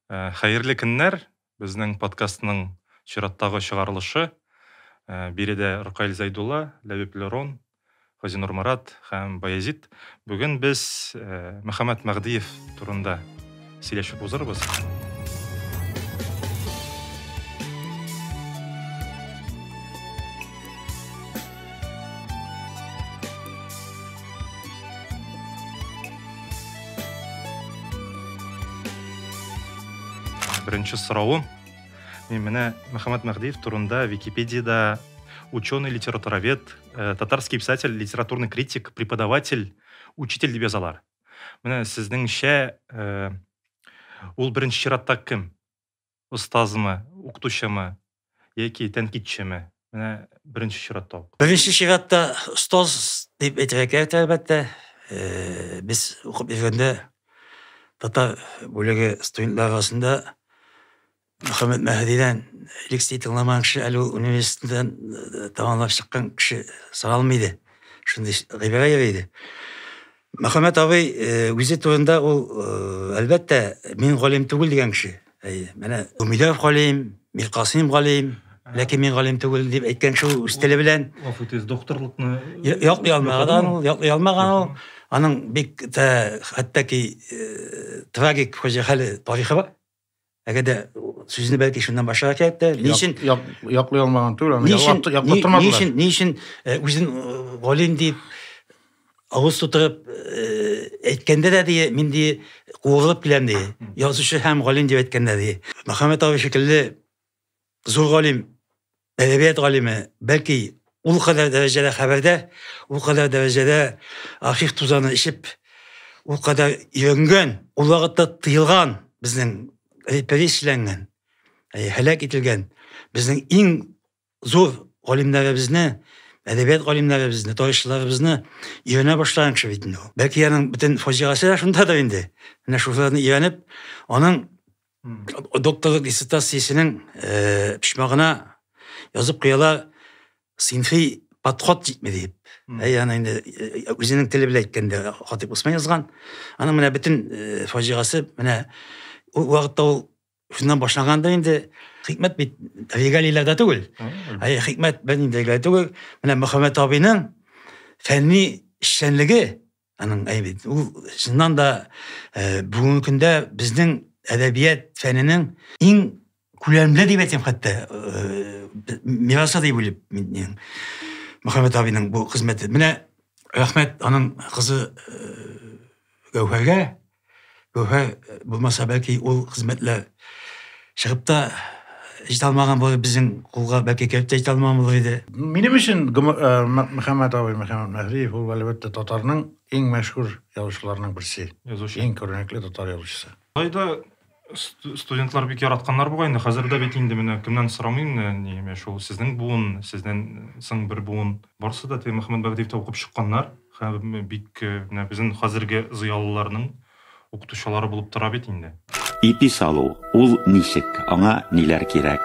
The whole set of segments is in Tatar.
Хәерле көннәр! Безнең подкастның чираттагы чыгарылышы. Биредә Ркаил Зәйдулла, Ләбиб Лерон, Газинур Марат һәм Баязит. Бүген без Мөхәммәт Мәгъдиев турында Сөйләшеп узырбыз. Беренче соравым. Мин менә Мөхәммәт Мәһдиев турында Википедиядә ученый, литературовед, э, татарский писатель, литературный критик, преподаватель, учитель дип язалар. Менә сезнеңчә, э, ул беренче чиратта кем? Остазмы, укытучымы яки тәнкитчеме? Менә беренче чиратта ул. Беренче чиратта остаз дип әйтергә кирәк, әлбәттә. Э, без укып йөргәндә татар бүлеге студентлары арасында Мөхәммәт Мәһдидән лекция тыңламаган кеше әле ул университеттан э, тәмамлап чыккан кеше соралмый иде. Шундый гыйбарә йөри иде. Мөхәммәт абый э, үзе турында ул, э, әлбәттә, мин галим түгел дигән кеше. Әйе, менә Гумилев галим, Мир Касыйм галим, ләкин мин галим түгел дип әйткән кеше ул үз теле белән Гафу итегез, докторлыкны Я- яклый алмаган ул, яклый алмаган ул. Аның бик тә хәтта ки э, трагик фаҗигале тарихы бар. Әгәр дә сүзне бәлки шуннан башларга кирәк тә, ни өчен яклый алмаган түгел, аны яклап тормадылар. Ни өчен, ни өчен э, үзен э, галим дип авыз тутырып э, әйткәндә дә ди, мин ди куырылып киләм ди. Язучы һәм галим дип әйткәндә ди. Мөхәммәт абый шикелле зур галим Әдәбият галиме, бәлки, ул кадәр дәрәҗәдә хәбәрдә, ул кадәр дәрәҗәдә архив тузаны эчеп, ул кадәр өйрәнгән, ул вакытта тыелган безнең репрессияләнгән, һәлак ителгән безнең иң зур галимнәребезне, әдәбият галимнәребезне, тарихчыларыбызны өйрәнә башлаган кеше бит инде ул. Бәлки аның бөтен фаҗигасе дә шундадыр инде. Менә шуларны өйрәнеп, аның докторлык диссертациясенең э, почмагына язып куялар синфи подход җитми дип ә яны инде үзенең теле белән әйткәндә хатип усман язган аның менә бөтен э, фаҗигасе менә ул вакытта ул шуннан башланганда инде хикмәт бит регалийләрдә түгел ә хикмәт бер инде регалий түгел менә мөхәммәт абыйның фәнни эшчәнлеге Аның әйбе, ул чыннан да э, бүгенге көндә безнең әдәбият фәненең иң күләмле дип әйтәм хәтта э, мирасы дип уйлыйм мин Мөхәммәт абиның бу хезмәте. Менә рәхмәт аның кызы э, Гәүһәргә Югы, булмаса, бәлки, ул хезмәтләр чыгып та җитә алмаган булыр безнең кулга, бәлки, кереп тә җитә алмаган булыр иде. Минем өчен Мөхәммәт абый, Мөхәммәт Мәһриев, ул, әлбәттә, татарның иң мәшһүр язучыларының берсе. Язучы. Иң күренекле татар язучысы. Алай да студентлар бик яратканнар бугай инде хәзер дә бит инде менә кемнән сорамыйм не менә шул сезнең буын сездән соң бер буын барысы да теге мөхәммәд бәгдиевтә укып чыкканнар һәм бик менә безнең хәзерге зыялыларның укытучылары булып тора бит инде Ипи салу, ул ничек, аңа ниләр кирәк?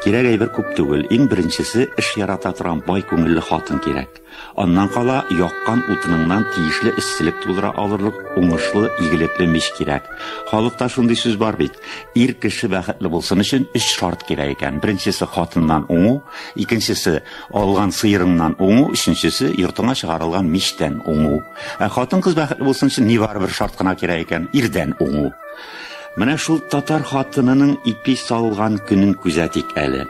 Кирәк әйбер күп түгел, иң беренчесе, эш ярата торган бай күңелле хатын кирәк. Аннан кала, яккан утыныңнан тиешле эсселек тудыра алырлык уңышлы, игелекле мич кирәк. Халыкта шундый сүз бар бит, Ир кеше бәхетле булсын өчен өч шарт кирәк икән. Беренчесе, хатыннан уңу, икенчесе, алган сыерыңнан уңу, өченчесе, йортыңа чыгарылган мичтән уңу. Ә хатын-кыз бәхетле булсын өчен нибары бер шарт кына кирәк икән, ирдән уңу. Менә шул татар хатынының ипи салган көнен күзәтик әле.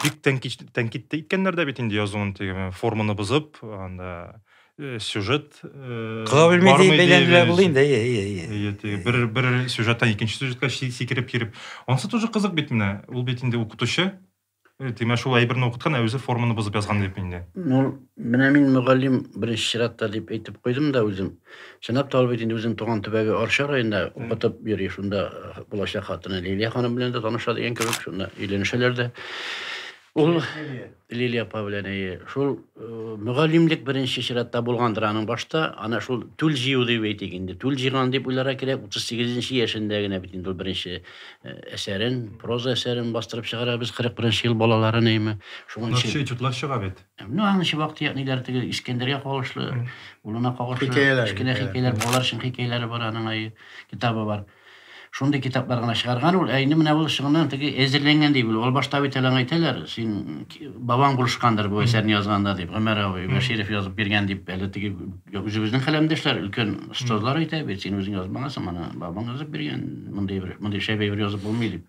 Бик тәнкыйть тәнкыйть тә иткәннәр дә бит инде язуын теге форманы бозып анда э, сюжет э, Кыга белми бармый диеп бәйләнделәр диебез. булды инде, әйе, әйе, әйе. Әйе, теге бер бер сюжеттан икенче сюжетка си- сикереп йөреп анысы тоже кызык бит менә ул бит инде укытучы Э, тимә шул әйберне укыткан ә үзе форманы бозып язган дип инде Ну, Менә мин мөгаллим беренче чиратта дип әйтеп куйдым да үзем. Чынлап та ул бит инде үзенең туган төбәге Арча районында укытып йөри, шунда булачак хатыны Лилия ханым белән дә таныша дигән кебек, шунда өйләнешәләр дә. Ул Лилия апа белән әйе. Шул мөгаллимлек беренче чиратта булгандыр аның башта, ана шул түл җыю дип әйтик инде. Түл җыйган дип уйларга кирәк, 38 нче яшендә генә бит инде ул беренче әсәрен, проза әсәрен бастырып чыгара. Без 41 нче ел балалары, нәйме. Шуңа Шунлак чын. чутлар чыга бит. Ну, аны чыбак тияк ниләр теге Искәндәргә кагылышлы, улына кагылышлы кечкенә хикәяләр, балалар өчен хикәяләре бар, аның ай китабы бар. Шундый китаплар гына чыгарган ул. Ә инде менә ул чыгыннан теге әзерләнгән дип ул. Ул башта бит әле әйтәләр, син бабаң булышкандыр бу әсәрне язганда дип, Гомәр абый Бәширов язып биргән дип, әле теге үзебезнең хәләмдәшләр, өлкән остазлар әйтә бит, син үзең язмагансың, моны бабаң язып биргән, мондый бер, мондый шәп әйбер язып булмый дип.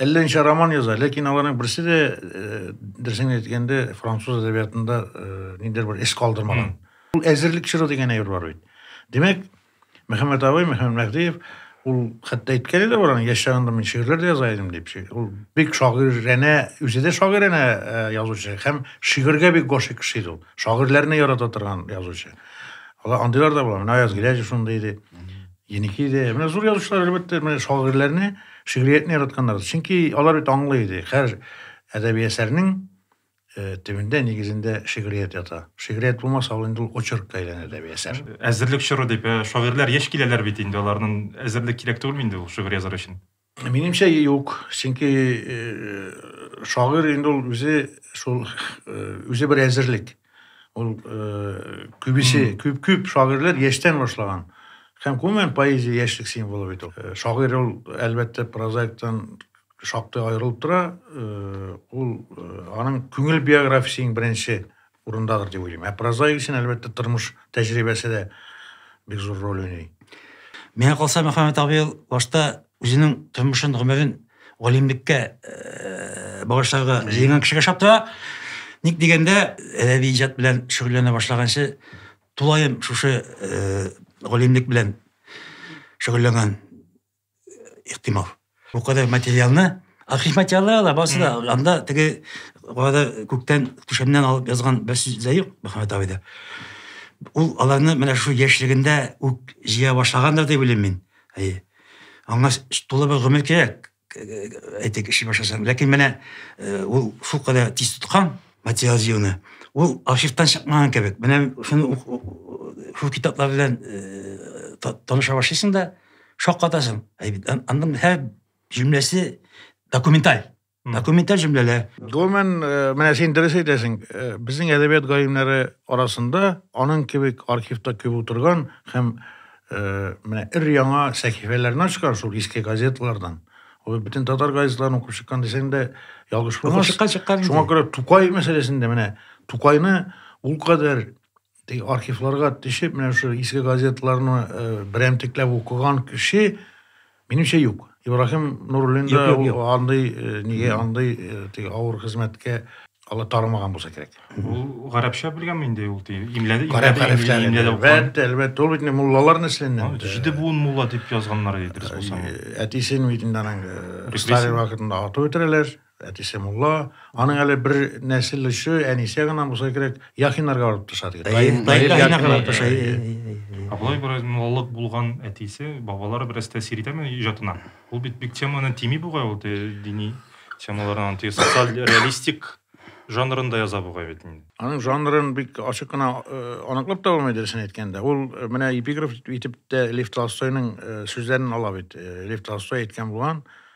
Әллә ничә роман яза, ләкин аларның берсе дә, э, дөресен әйткәндә, француз әдәбиятында э, ниндидер бер эз калдырмаган. Ул әзерлек чоры дигән әйбер бар бит. Димәк, Мөхәммәт абый, Мөхәммәт Мәһдиев, ул хәтта әйткәне дә бар, аның яшь чагында мин шигырьләр дә яза идем дип. Ши- Ул бик шагыйрәнә, үзе дә шагыйрәнә э, язучы һәм шигырьгә бик гашыйк кеше иде ул. Шагыйрьләрне ярата торган язучы. Алар андыйлар да була. Менә Аяз Гыйләҗев шундый иде. Еники дә, менә зур язучылар, әлбәттә, менә шагыйрьләрне, шигъриятне яратканнар. Чөнки алар бит аңлый иде, һәр әдәби әсәрнең э, төбендә, нигезендә шигърият ята. Шигърият булмаса, ул инде ул очеркка әйләнә әдәби әсәр. Әзерлек чоры дип, ә, шагыйрьләр яшь киләләр бит инде, аларның әзерлек кирәк түгелме инде ул шигырь язар өчен? Минемчә юк, чөнки э, шагыйрь инде ул үзе шул э, үзе бер әзерлек. Ул э, күбесе, күп күп шагыйрьләр яшьтән башлаган. Һәм гомумән поэзия яшьлек символы бит ул. Э, Шагыйрь ул әлбәттә прозаиктан шактый аерылып тора. Э, Ул э, аның күңел биографиясе иң беренче урындадыр дип уйлыйм. Ә прозаик өчен, әлбәттә, тормыш тәҗрибәсе дә бик зур роль уйный. Миңа калса, Мөхәммәт абый ул башта үзенең тормышын, гомерен галимлеккә багышларга җыенган кешегә ошап тора. Ник дигәндә, әдәби иҗат белән шөгыльләнә башлаганчы тулаем шушы галимлек белән шөгыльләнгән ихтимал. Бу кадәр материалны архив материалы да барысы да анда теге кадәр күктән түшәмнән алып язган бер сүз дә юк Мөхәммәт абыйда. Ул аларны менә шул яшьлегендә үк җыя башлагандыр дип уйлыйм мин. Әйе. Аңа тулы бер гомер кирәк, әйтик, эшли башласаң. Ләкин менә ул шул кадәр тиз тоткан материал җыюны. Ул архивтан чыкмаган кебек. Менә шуны шул китаплар белән таныша башлыйсың да, Шаккатасың. Аның һәр җөмләсе документаль. Документаль җөмләләр. Гомумән, э, менә син дөрес әйтәсең, э, безнең әдәбият галимнәре арасында аның кебек архивта күп утырган һәм э, менә ир яңа сәхифәләрне ачкан шул иске газеталардан. Ул бөтен татар газеталарын укып чыккан дисәң дә ялгыш булмас. Шуңа күрә Тукай мәсьәләсендә менә Тукайны ул кадәр Теге архивларга төшеп, менә шул иске газетларны э, берәмтекләп укыган кеше, минемчә, юк. Ибрахим Нуруллин да андый э, нигә андый э, теге авыр хезмәткә ала тармаган булса кирәк. Ул гарәпчә белгәнме инде ул тиен? Имләде, Гарәп хәрефләрен имләде. Әлбәттә, әлбәттә, ул бит инде муллалар нәселеннән. Җиде буын мулла дип язганнар иде дөрес булса. Әтисен бит инде аның Сталин вакытында атып үтерәләр. Әтисе мулла, аның әле бер нәсел очы, әнисе генә булса кирәк, Яхиннарга барып төшә диген. Даим, даим Яхиннарга төшә. Ә болай бераз муллалык булган әтисе, бабалары бераз тәэсир итәме иҗатына? Ул бит бик теманы тими бугай ул дини темалардан, тиз социаль реалистик жанрында яза бугай бит инде. Аның жанрын бик ачык кына аныклап таба алмый дөресен әйткәндә. Ул менә эпиграф итеп тә Лев Толстойның сүзләрен ала бит. Лев Толстой әйткән булган,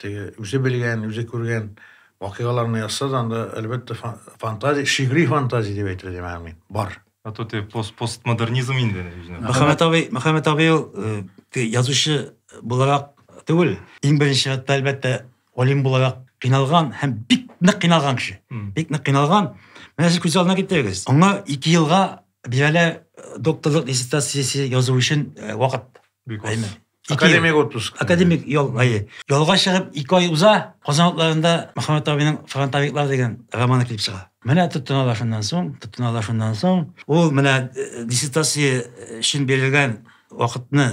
Теге үзе белгән, үзе күргән вакыйгаларны язса да, анда әлбәттә фантазия, шигъри фантазия дип әйтер идем аны мин. Бар. А то те пост постмодернизм инде. Мөхәммәт абый, Мөхәммәт абый ул э, язучы буларак түгел. Иң беренче чиратта әлбәттә галим буларак кыйналган һәм бик нык кыйналган кеше. Бик нык кыйналган. Менә сез күз алдына китерегез. Аңа 2 елга бирәлә э, докторлык диссертациясе язу өчен э, вакыт. Бик аз. Академик отпуск. Академик ял айы. Ялга чыгып ике ай уза, Казан утларында Мөхәммәт абыйның Фронтовиклар дигән романы килеп чыга. Менә тотыналар шуннан соң, тотыналар шуннан соң. Ул менә э, диссертация өчен бирелгән вакытны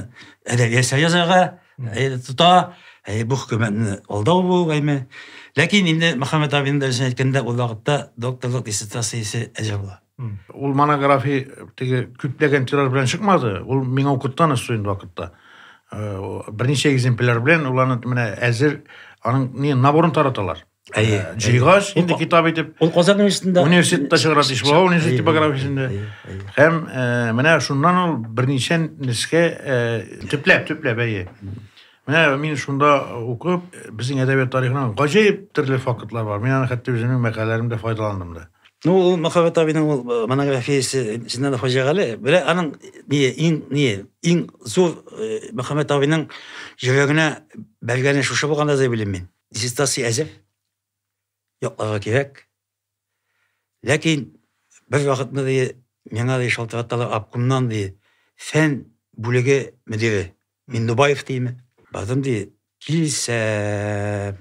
әдәби әсәр язарга э, тота, э, бу хөкүмәтне алдау бу гайме. Ләкин инде Мөхәммәт абыйның да үзенә әйткәндә, ул вакытта докторлык диссертациясе әзер була. Ул монография теге күпләгән тираж белән чыкмады. Ул миңа укыттан өстө инде вакытта. Берничә экземпляр белән уланы менә әзер аның не наборын тараталар. Әйе. Җыйгач, инде китап итеп. Ул Казан университетында университетта чыгара Тишбау университет типографиясендә. Һәм менә шуннан ул берничә нескә төпләп, төпләп әйе. Менә мин шунда укып, безнең әдәбият тарихында гаҗәеп төрле фактлар бар. Мин аны хәтта үземнең мәкаләләремдә файдаландым да. Ну, ул Мөхәббәт абыйның ул э, монографиясе Зиндан Хаҗагали. Белә аның ни иң ни иң зур э, Мөхәббәт абыйның йөрәгенә бәргәне шушы булганда да белим мин. Диссертация әзер. Якларга кирәк. Ләкин бер вакытны ди миңа ди шалтыраталар обкомнан ди фән бүлеге мөдире. Миндубаев диме? Бардым ди, килсә,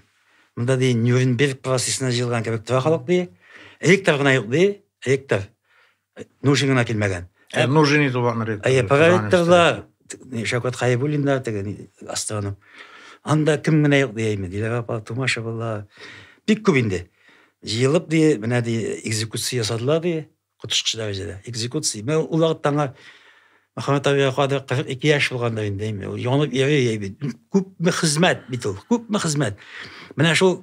монда ди Нюрнберг процессына җыелган кебек тора халык ди. Ректор гына юк ди, ректор. Нужин гына килмәгән. Ә Нужин иде ул ректор. Әйе, проректорлар, Шәүкәт Хаебуллиннар теге астроном. Анда кем генә юк дияйме, Диләр апа, Тумашевалар. Бик күп инде. Җыелып ди, менә ди, экзекуция ясадылар ди. Коточкыч дәрәҗәдә. Экзекуция. Мен ул вакытта аңа Мөхәммәт абыга кадәр 42 яшь булганда инде, әйме, ул янып йөри бит. Күпме хезмәт бит ул, күпме хезмәт. Менә шул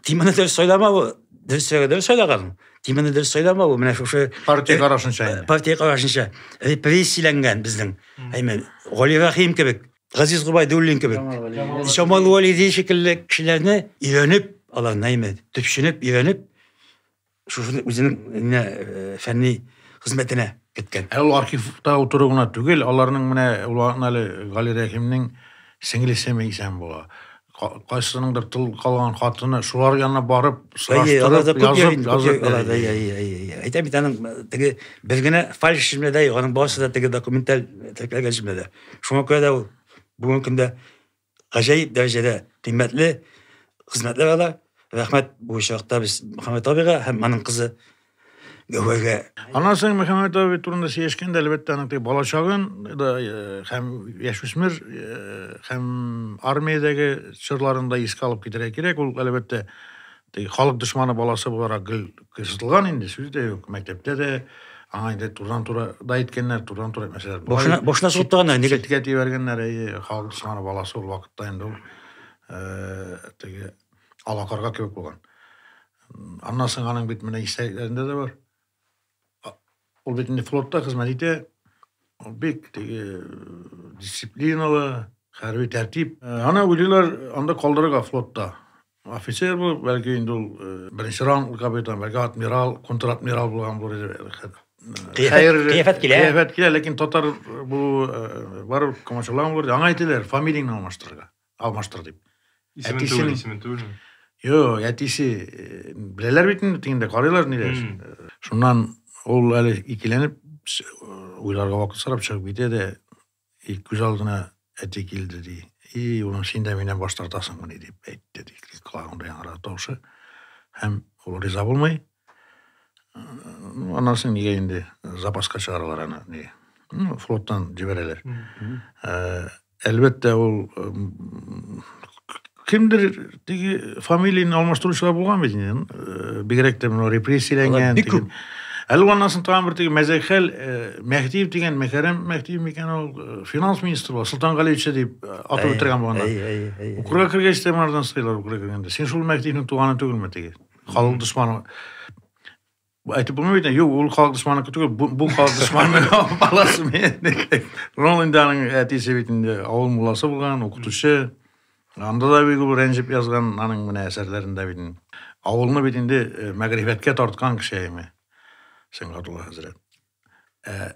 тимәне дөрес сайламавы, дөрес дөрес сайлаган. Тимәне дөрес сайламавы, менә шушы партия карашынча инде. Партия карашынча репрессияләнгән безнең, әйме, Гали Рахим кебек, Газиз Губайдуллин кебек, Җамал Валиди шикелле кешеләрне өйрәнеп, алар нәйме, төпченеп, өйрәнеп, Шуферны үзенең менә фәнни хезмәтенә керткән. Ә ул архивта утыру гына түгел, аларның менә ул вакытны әле Гали Рәхимнең сеңлесе Мәйсәм була. Кайсыныңдыр тыл калган хатыны шулар янына барып сораштырып, язып, язып. Әйтәм бит аның теге бер генә фальш җөмләдә, аның барысы да теге документаль теркәлгән җөмләдә. Шуңа күрә дә ул бүгенге көндә гаҗәеп дәрәҗәдә кыйммәтле хезмәтләр ала. Рәхмәт бу очракта без Мөхәммәт абыйга һәм аның кызы Гәүһәргә. Аннан соң Мөхәммәт абый турында сөйләшкәндә, әлбәттә, аның теге балачагын да һәм яшүсмер һәм армиядәге чорларын да искә алып китәргә кирәк. Ул, әлбәттә, Ди, халык дошманы баласы буларак гел кыерсытылган инде, сүз дә юк. Мәктәптә дә аңа инде турыдан-туры да әйткәннәр, турыдан-туры әйтмәсәләр. болай Башына- дип башына сугып чит- торганнар, нигә? Читкә тибәргәннәр, әйе, халык дошманы баласы ул вакытта инде ул э, теге алакарга кебек булган. Аннан соң аның бит менә истәлекләрендә дә бар. А- Ул бит инде флотта хезмәт итә. Ул бик теге дисциплиналы, хәрби тәртип. Аны уйлыйлар анда калдырырга флотта. Офицер булып, бәлки инде ул беренче ранглы капитан, бәлки адмирал, контр-адмирал булган булыр иде. Кыяфәт килә. Кыяфәт килә, ләкин татар бу барып комачаулаган булыр. Аңа әйтәләр, фамилияңне алмаштырырга. Алмаштыр дип. Исемен Әтисен... түгел, исемен түгел. Йо, әтисе э, беләләр бит инде, тиңдә карыйлар ниләр. Э, шуннан ул әле икеләнеп уйларга вакыт сорап чыгып китә дә, и күз алдына әти килде ди. И улым, син дә миннән баш тартасыңмыни дип әйтте ди. Колагында яңара тавышы. Һәм ул риза булмый. Э, аннан соң нигә инде запаска чыгаралар аны, ни, флоттан җибәрәләр. Әлбәттә, ул кемдер теге фамилияне алмаштыручылар булган бит инде. Э, бигрәк тә менә репрессияләнгән. Бик күп. Әле аннан соң тагын бер теге Мәзәкхәл э, Мәһдиев дигән Мәкәрәм Мәһдиев микән ул э, финанс министры була, Солтан Галиевича дип атып үтергән булган. Укырга кергәч тә монардан сыйлар укырга кергәндә. Син шул Мәһдиевнең туганы түгелме теге? Халык дошманы. Бу әйтеп булмый бит. Юк, ул халык дошманыкы түгел. Бу, бу халык дошманы баласы мени. Рон инде аның әтисе бит инде авыл мулласы булган, укытучы. Анда да бик ул рәнҗеп язган аның менә әсәрләрендә бит. Авылны бит инде мәгърифәткә тарткан кеше әйме. Сәнгатулла хәзрәт. Ә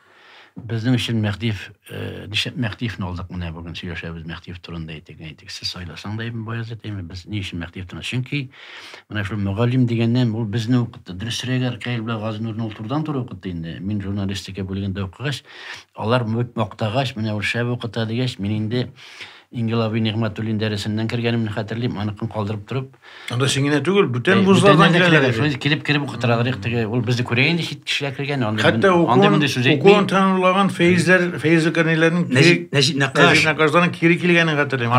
Безнең өчен Мәхтиев, нишләп Мәхтиевне алдык, менә бүген сөйләшәбез Мәхтиев турында әйтик, әйтик. Сез сайласаң да Ибн Баязит, әйме, без ни өчен Мәхтиев турында? Чөнки менә шул мөгаллим дигәннән ул безне укытты. Дөресрәге Аркаил белән Газинурны ул турыдан туры укытты инде. Мин журналистика бүлегендә укыгач, алар бик мактагач, менә ул шәп укыта дигәч, мин инде Ингелави Нигъмәтуллин дәресеннән кергәнемне хәтерлим, аныкын калдырып торып, Анда син генә түгел, бүтән вузлардан киләләр. Шуны килеп кереп укытыралар их теге. Ул безне күрә инде чит кешеләр кергән. Анда Хәтта укуын, укуын тәмамлаган фәйзләр, фәйзле кәрниләрнең Нәҗип Нәкаш. Нәкашдан кире килгәнен хәтерлим.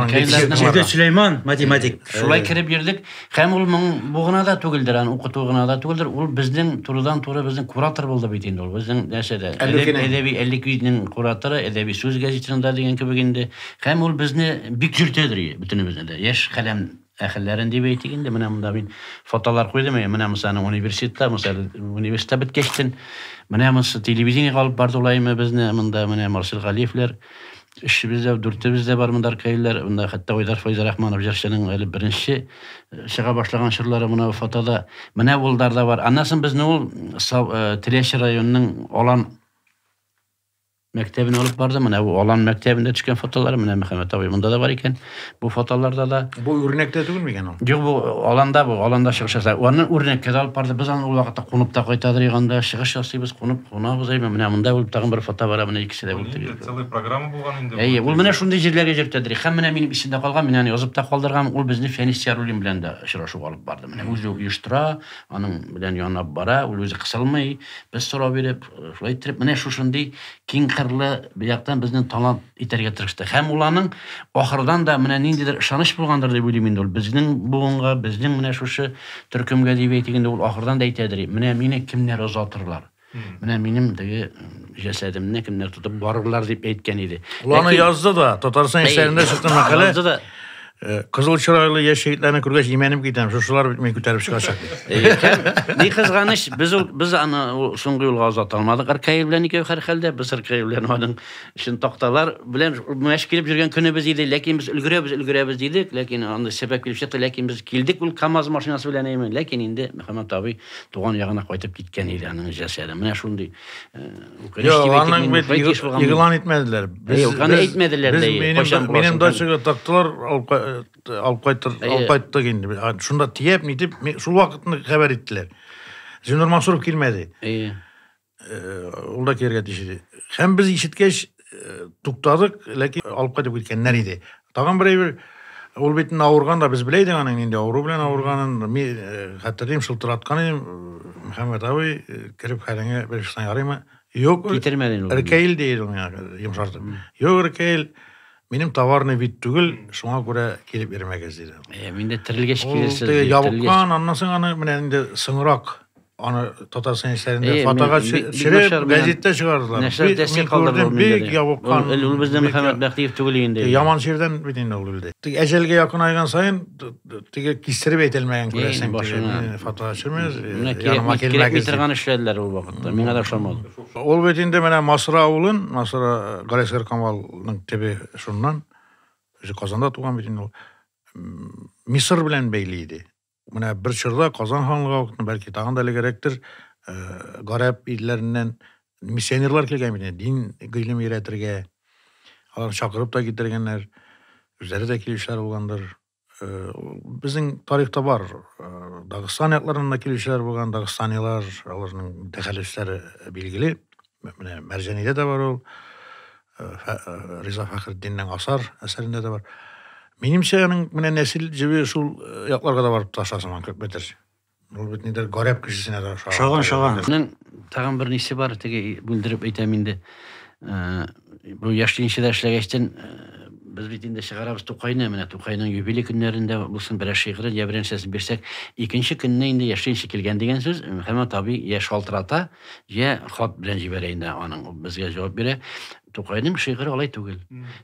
Җирдә Сөләйман, математик. Шулай кереп йөрдек. Һәм ул моң бу гына да түгелдер, аны укыту гына да түгелдер. Ул безнең турыдан туры безнең куратор булды бит инде ул. Безнең нәрсәдә? Әдәби Әлликинең кураторы, әдәби сүз газетасында дигән кебек инде. Һәм ул безне бик йөртәдер бөтенебезне дә. Яшь каләм Әхелләрен дип әйтик инде, менә монда мин фотолар куйдым, әйе, менә монсы аның университеты, монсы әле университет беткәчтен, менә монсы телевидениегә алып барды ул әйме безне, монда менә Марсель Галиевләр, өчебез дә, дүртебез дә бар монда аркаилләр, монда хәтта Айдар Файзрахманов җырчының әле беренче э, чыга башлаган чорлары мына фотода, менә Улдар да бар. Аннан соң безне ул э, Теләче районының Алан мәктәбенә алып барды. Менә бу Алан мәктәбендә төшкән фотолары, менә Мөхәммәт абый монда да бар икән. Бу фотоларда да. Бу үрнәктә түгелме икән ул? Юк, бу Аланда бу, Аланда чыгыш ясап. Аны үрнәккә дә алып барды. Без аны ул вакытта кунып та кайтадыр анда, чыгыш ясыйбыз, кунып кунабыз. Әйме, менә монда ул тагын бер фото бар, менә икесе дә булды. Целый программа булган инде. Әйе, ул менә шундый җирләргә җөртәдер. Хәм менә минем исемдә калган, мин аны язып та калдырган. Ул безне Фәнис Яруллин белән дә очрашу алып барды. Менә үзе оештыра, аның белән янап бара, ул үзе кысылмый. Без сорау биреп, Шулай иттереп, менә шушындый киң кырлы бияктан безнең талант итәргә тырышты. Һәм ул аның ахырдан да менә ниндидер ышаныч булгандыр дип уйлыйм инде ул. Безнең буынга, безнең менә шушы төркемгә дип әйтик инде, ул ахырдан да әйтәдер, менә мине кемнәр озатырлар. Менә минем теге җәсәдемне кемнәр тотып барырлар дип әйткән иде. Ул аны язды да, Татарстан исәбендә чыкты мәкалә. Язды да. Э, кызыл чырайлы яшь егетләрне күргәч имәнеп китәм шушылар бит мин күтәреп чыгачак э, ни кызганыч без ул без аны соңгы юлга озата алмадык ркаил белән икәү һәрхәлдә без ркаил белән аның өчен такталар белән мәш килеп йөргән көнебез иде ләкин без өлгерәбез өлгерәбез дидек ләкин андый сәбәп килеп чыкты ләкин без килдек ул камаз машинасы белән әймен ләкин инде мөхәммәт абый туган ягына кайтып киткән иде аның җәсәде менә шундый э, Йо, аның бит игълан итмәделәр. Без аны әйтмәделәр дә. Кайчан минем дачага тактылар, алып алып кайтыр, алып кайттык инде. Шунда тиеп, нитеп, шул вакытны хәбәр иттеләр. Зинур Мансуров килмәде. Әйе. Ул да кергә тиеш иде. Һәм без ишеткәч туктадык, ләкин алып кайтып киткәннәр иде. Тагын бер әйбер, ул бит инде авырган да, без белә идек аның нинди авыру белән авырганын. Мин э, хәтерлим, шылтыраткан идем, э, Мөхәммәт абый, э, кереп хәлеңә бер шуна ярыймы? Юк, Китермәден ул. Ркәйл дейді ул миңа йомшартып. Юк, Ркәйл, минем товарный бит түгел, шуңа күрә килеп йөрмәгез, диде. Э, Мин дә терелгәч Ул килерсез. теге дип, терелгәч. ябыккан, аннан соң аны менә инде соңрак аны татарстан яшьләрендә Әйе, фотога мин- ми- төшереп Миңнәшәр белән- газеттә чыгардылар Нәрсә Бик- дәсте мин калдырды күрдем, ул миндә бик дә. ябыккан Ул- Ул бездә бик Мөхәммәд я- Бәхтиев түгел инде. Э, яман җирдән бит инде ул үлде Теге әҗәлгә якынайган саен т- т- теге кистереп әйтелмәгән Әйе, күрәсең теге, башына. мин фотога төшермәгез э, Менә кирәкми яныма кирәкми килмәгез дип. торган эшләделәр ул вакытта. Миңа да ошамады. ул бит инде менә масра авылын масра э, галәсгар камалның төбе шуннан үзе казанда туган бит инде ул М, мисыр белән бәйле иде Менә бер чорда Казан ханлыгы вакытында, бәлки тагын да элегрәктер, э, гарәп илләреннән миссионерлар килгән бит, дин гыйлем өйрәтергә. Алар чакырып та китергәннәр, үзләре дә килүчеләр булгандыр. Э, безнең тарихта бар, э, Дагыстан якларыннан да килүчеләр булган, дагыстанилар, аларның тәхәллүсләре билгеле. Менә Мәрҗәнидә дә бар ул. Э, э, Риза Фәхретдиннең Асар әсәрендә дә бар. Минемчә, аның менә нәсел җебе шул э, якларга да барып таша сыман күпмедер. Ул бит нидер гарәп кешесенә дә ошаган. Шаган, шаган. Аның тагын бер нисе бар, теге бүлдереп әйтәм инде. Э, Бу яшьлегенчедә эшләгәчтен э, без бит инде чыгарабыз Тукайны, менә Тукайның юбилей көннәрендә булсын берәр шигырен я берәр нәрсәсен бирсәк, икенче көнне инде яшьлегенче килгән дигән сүз, һәм таби яшь шалтырата. Йә хат белән җибәрә инде аның безгә җавап бирә. Тукайның шигыре алай түгел.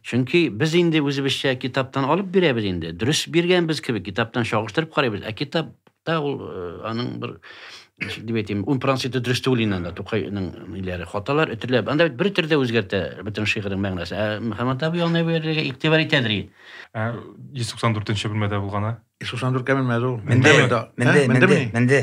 Чөнки без инде үзебезчә китаптан алып бирәбез инде. Дөрес биргәнбез кебек китаптан чагыштырып карыйбыз, ә китапта ул э, аның бер дип әйтим, ун проценты дөрес түгел инде анда Тукайның ниләре, хаталар өтерләп. Анда бер төрдә үзгәртә бөтен шигырьнең мәгънәсе. Ә Мөхәммәт абый аны бирергә игътибар итәдер. Ә 194 бүлмәдә булгана? 194 кә менмәде ул. Менде, менде, менде.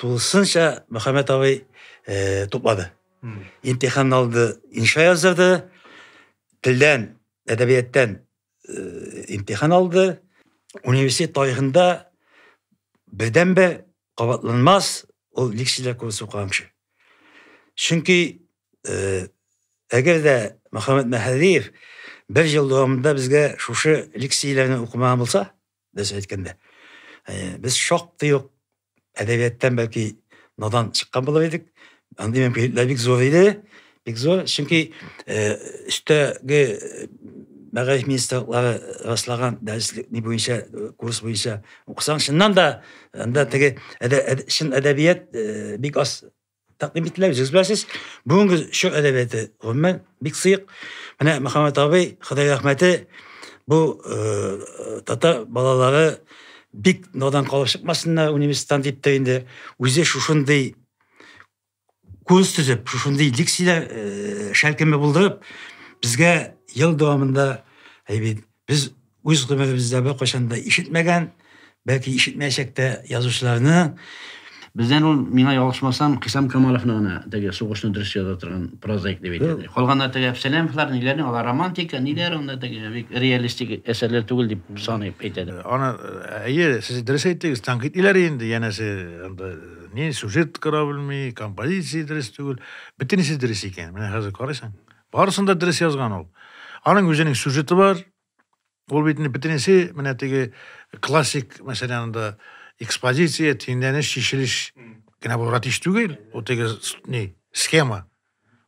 тулысынча Мөхәммәт абый э, туплады. Имтихан алды, инша яздырды, телдән, әдәбияттән э, имтихан алды. Университет тарихында бердәнбер кабатланмас ул лексилар курсы укыган кеше. Чөнки э, әгәр дә Мөхәммәт Мәһәдиев бер ел дәвамында безгә шушы лексияләрне укымаган булса, Без әйткәндә, без шактый ук әдәбияттан бәлки надан чыккан булыр идек. Андый мөмкинлекләр бик зур иде. Бик зур, чөнки өстәге мәгариф министрлыклары раслаган дәреслек ни буенча курс буенча укысаң, чыннан да анда теге чын әдәбият бик аз тәкъдим иттеләр, җиз беләсез. Бүгенге чор әдәбияты, гомумән, бик сыек. Менә Мөхәммәт абый, Ходай рәхмәте, бу э, татар балалары бик надан калып чыкмасыннар университеттан дип тә инде үзе шушындый курс төзеп, шушындый лекцияләр э, шәлкеме булдырып, безгә ел дәвамында әйбит Без үз гомеребездә беркайчан да ишетмәгән, бәлки ишетмәячәк тә язучыларны Бездән ул, миңа ялгышмасам, Хисам Камаловны гына теге сугышны дөрес яза торган прозаик дип әйтә. Калганнар теге Әпсәләмовлар, ниләрне, алар романтика, ниләр анда теге бик реалистик әсәрләр түгел дип саный әйтә. Аны әйе, сез дөрес әйттегез, танкит иләр инде, янәсе анда ни сюжет кора белми, композиция дөрес түгел. Бөтенесе дөрес икән. Менә хәзер карыйсың, Барысын да дөрес язган ул. Аның үзенең сюжеты бар. Ул бит инде бөтенесе менә теге классик, мәсәлән, анда экспозиция, тиңләнеш, чишелеш генә бу ратиш түгел, ул теге ни, схема.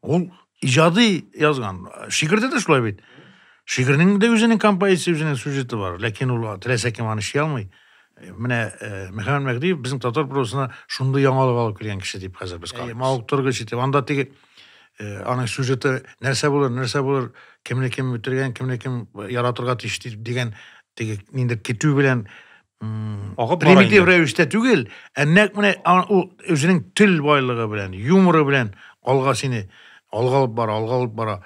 Ул иҗади язган. Шигырьдә дә шулай бит. Шигырьнең дә үзенең композициясе, үзенең сюжеты бар, ләкин ул теләсә кем аны ши алмый. Менә э, Мөхәммәт Мәгъдиев безнең татар прозасына шундый яңалык алып килгән кеше дип хәзер без карыйбыз. Мавыктыргыч итеп, анда теге Э, аның сюжеты нәрсә булыр нәрсә булыр кемне кем үтергән кемне кем яратырга тиеш дигән теге нинди көтү белән агып примитив рәвештә түгел ә нәкъ менә ул үзенең тел байлыгы белән юморы белән алга сине алга алып бара алга алып бара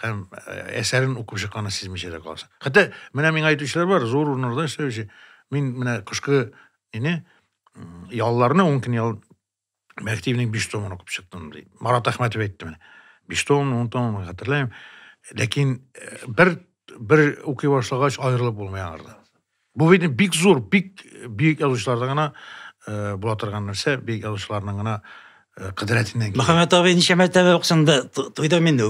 һәм э, әсәрен укып чыкканын сизмичә дә каласың хәтта менә миңа әйтүчеләр бар зур урыннарда эшләүче мин менә кышкы нене ялларны ун көн ял мәртебенең биш томын укып чыктым ди марат әхмәтов әйтте менә биш том он том хәтерләмим ләкин э, бер бер укый башлагач аерылып булмый аңардан бу бит бик зур бик бөек язучыларда гына э, була торган нәрсә бөек язучыларның гына э, кыдрәтеннән килә мөхәммәт абый ничә мәртәбә уксында туйдым инде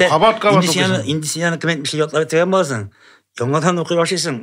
кабат кабат инде сине инде сине кем әйтмешли ятлап бетергән буласың яңадан укый башлыйсың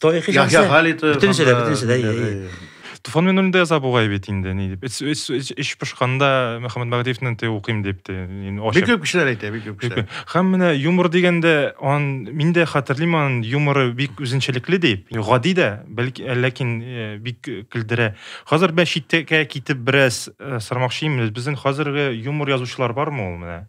Тарихи Яхъя шәхесләр. Халитов. Бөтенесе дә, анда- бөтенесе дә, иә, иә. Туфан мине үлемдә яза бугай бит инде, ни дип. Эс- эс- эс- Эч пошканда Мөхәммәд Мәгъдиевне те укыйм дип те. ин- Бик ачып. күп кешеләр әйтә, бик күп Бик кешеләр. күп. Һәм менә юмор дигәндә, ан мин дә хәтерлим ан юморы бик үзенчәлекле дип. Гади дә, бәлки ә, ләкин э, бик э, көлдерә. Хәзер бә читкә китеп бераз э, сормакчыйм, безнең хәзерге юмор язучылар бармы ул менә?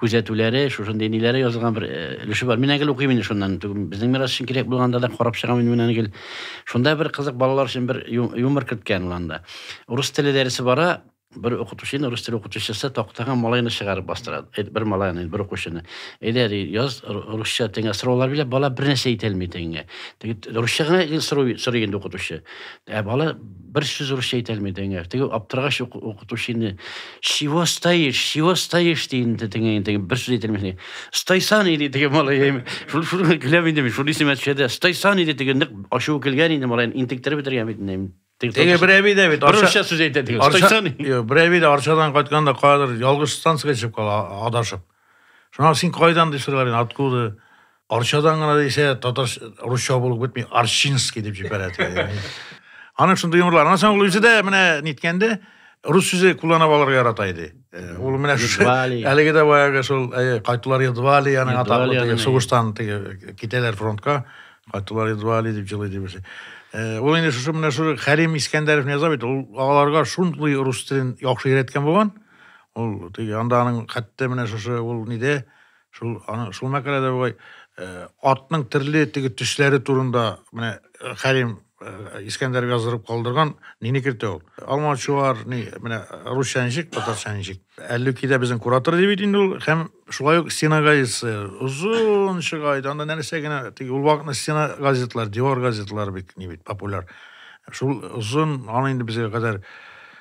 күзәтүләре, шушындый ниләре язылган бер э, өлеше бар. Мин әгел укыйм инде шуннан. Безнең мирас өчен кирәк булганда да карап чыгам инде менә әгел. Шунда бер кызык балалар өчен бер юмор керткән ул анда. Урыс теле дәресе бара, бер укытучы, рус теле укытучысы тактага малайны чыгарып бастыра. Э, бер малайны, бер укучыны. Әйдә, ди, яз русча теңә сораулар бирә, бала бер нәрсә әйтә алмый теңгә. Русча гына сорый инде укытучы. Ә бала Бер сүз русча әйтә алмый деңә. Теге аптырагач укытучы инде чего стоишь, чего стоишь ди инде деңә инде бер сүз әйтә алмый. Стойсан иде теге малай. Шул шул гүләм инде шул исемә төшәдә. Стойсан иде теге ник ачуы килгән инде малай интектер бетергән бит инде. Теге берәби дә бит русча сүз әйтә теге. Стойсан. Берәби дә Арчадан кайтканда кадәр ялгыш станция чыгып кала адашып. Шуңа син кайдан дип сорыйлар инде, откуда? Арчадан гына дисә, татар русча булып бетми, Арчинский дип җибәрә. Аның шундый юморлар. Аннан соң ул үзе дә менә ниткәндә рус сүзе кулланып алырга ярата иде. Ул менә шушы әлеге дә баягы шул кайтулар едва ли аның атаклы сугыштан китәләр фронтка. Кайтулар едва ли дип җылый дибесе. Ул инде шушы менә шушы Хәрим Искәндәров яза бит, ул аларга шундый рус телен яхшы өйрәткән булган. Ул теге анда аның хәтта менә шушы ул ниде? Шул аны шул мәкаләдә бугай э, атның төрле теге төсләре турында менә э, Хәлим э, Искәндәр яздырып калдырган нини кертә ул? Алма чуар ни менә русча ничек, татарча ничек? Әллүкидә безнең куратор ди бит инде ул һәм шулай ук стена газетасы озын чыга иде. Анда нәрсә генә теге ул вакытны стена газетлар, дивар газетлары бик ни бит популяр. Шул озын аны инде безгә кадәр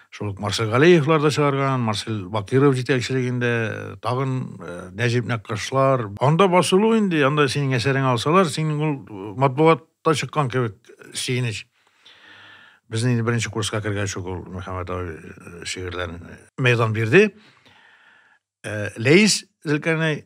Шул ук Марсель Галиевлар да чыгарган, Марсель Бакиров җитәкчелегендә, тагын э, Нәҗип Нәккашлар. Анда басылу инде, анда синең әсәреңә алсалар, синең ул э, матбугатта чыккан кебек сөенеч. Безнең инде беренче курска кергәч ук ул Мөхәммәт абый э, шигырьләрен мәйдан бирде. Ләис Зелкәнәй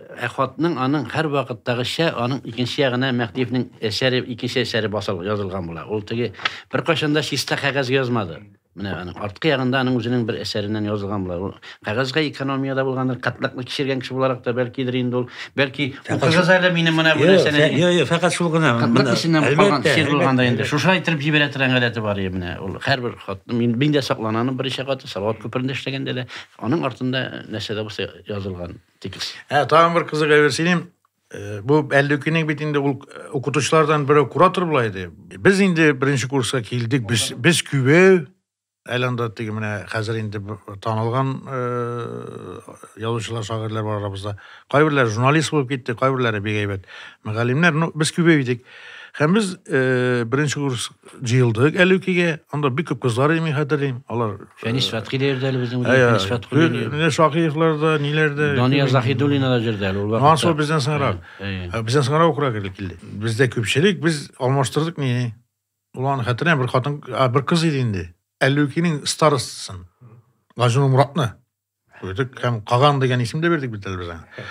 Ә хатның аның һәрвакыттагыча аның икенче ягына Мәһдиевнең әсәре, икенче әсәре басыл, язылган була. Ул теге беркайчан да чиста кәгазь язмады. Менә аның арткы ягында аның үзенең бер әсәреннән язылган була. Ул кәгазьгә экономия дә булгандыр, кытлыкны кичергән кеше буларак та бәлкидер инде ул. Бәлки, укыгыз әле минем менә бу нәрсәне. Юк, юк, юк, фәкать шул гына. Кытлык эченнән калган чир булганда инде. Шуша әйттереп җибәрә торган гадәте бар иде менә. Ул һәрбер хатны мин, мин дә сакланам берничә каты, Салават күперендә эшләгәндә дә, аның артында нәрсә дә булса язылган. Тикс. Ә тагын бер кызык әйбер сөйлим. Э, бу әллүкинең бит инде ул э, укытучылардан берәү куратор була иде. Без инде беренче курска килдек. Без без күбәү әле анда теге менә хәзер инде танылган э, язучылар, шагыйрьләр бар арабызда. Кайберләр журналист булып китте, кайберләре бик әйбәт мөгаллимнәр. Ну, без күбәү идек. Һәм без беренче курс җыелдык әлүкигә. Анда бик күп кызлар иде, мин хәтерлим. Алар Фәнис Фәтхи дә йөрде әле безнең белән. Фәнис Фәтхуллин йөрде. Менә Шакиевлар да, ниләр дә. Дания Заһидуллина да йөрде әле ул вакытта. Ансы бездән соңрак. Бездән соңрак укырак килде килде. Бездә күпчелек без алмаштырдык мени. Ул аны хәтерләмим, бер хатын, бер кыз иде инде. Әлүкинең старостасын. Гажнур Муратны. Күрдек һәм Каган дигән исем дә бирдек бит әле без аңа.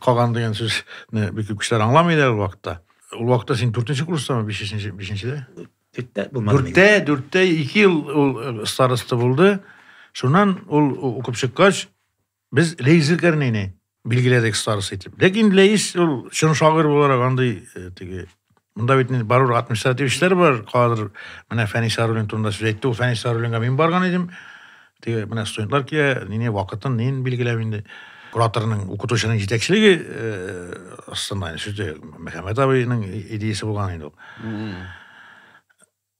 Каган дигән сүзне бик күп кешеләр аңламый да ул вакытта. Ул вакытта син 4-нче курстамы, 5-нче, 5-нчедә? Дүрттә булмады. Дүрттә, дүрттә 2 ел ул э, староста булды. Шуннан ул укып чыккач, без Лейзер Кәрнәйне билгеләдек староста итеп. Ләкин Ләис ул чын шагыйрь буларак андый э, теге Монда бит инде барур административ эшләр бар. Кадр менә Фәнис Арулин турында сүз әйтте. Ул Фәнис Арулинга мин барган идем. Теге менә студентлар килә, нине вакытын, нин билгеләп инде. Кураторның, укытучының җитәкчелеге э, астында, сүзе Мөхәммәт абыйның идеясе булган инде ул.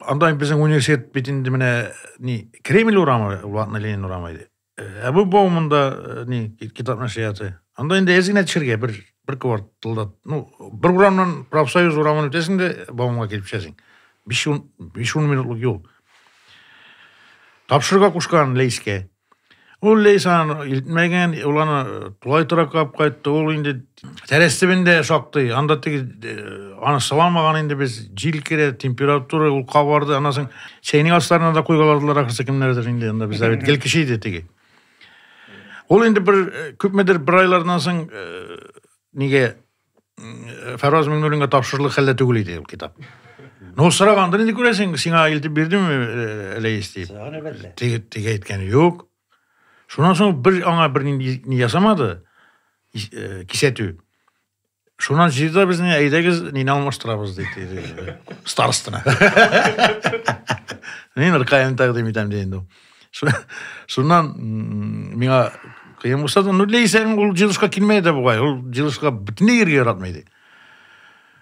Анда безнең университет бит инде менә ни Кремль урамы, Ватны Ленин урамы иде. Ә бу баумында э, ни китап нәшрияты. Анда инде әз генә төшәргә бер бер кварталда. Ну, бер урамнан профсоюз урамын үтәсең дә баумга килеп төшәсең. 5 минутлык юл. Тапшырырга кушкан Лейскә. Ул Лейсан илтмәгән, ул аны э, тулай тораклап кайтты. Ул инде тәрәз төбендә шактый. Анда теге э, аны сыламаган инде без җил керә, температура ул кабарды. Аннан соң чәйнең асларына да куйгаладылар ахрысы кемнәрдер инде анда бездә бит гел кеше иде теге. Ул инде бер э, күпмедер бер айлардан соң э, нигә Фәрваз Миңнуллинга тапшырылыр хәлдә түгел иде ул китап. Ну, сораганда инде күрәсең, сиңа илтеп бирдеме Ләис дип. Теге теге әйткән юк. Шуннан соң бер аңа бер ни ясамады. Кисәтү. Шуннан җыйда безне әйдәгез, нине алмаштырабыз диде. Старостына. Мин ркаен тәкъдим итәм ди инде. Шуннан миңа кыен булса да, ну лейсәң ул җылышка килмәй дә бугай, ул җылышка бөтенләй йөргә яратмый иде.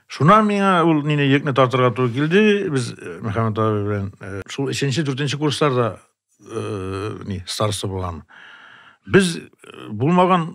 Шуннан миңа ул нине йөкне тартырга туры килде, без э, Мөхәммәт абый белән э, шул 3-нче, 4-нче курсларда э, ни, староста булган. Без булмаган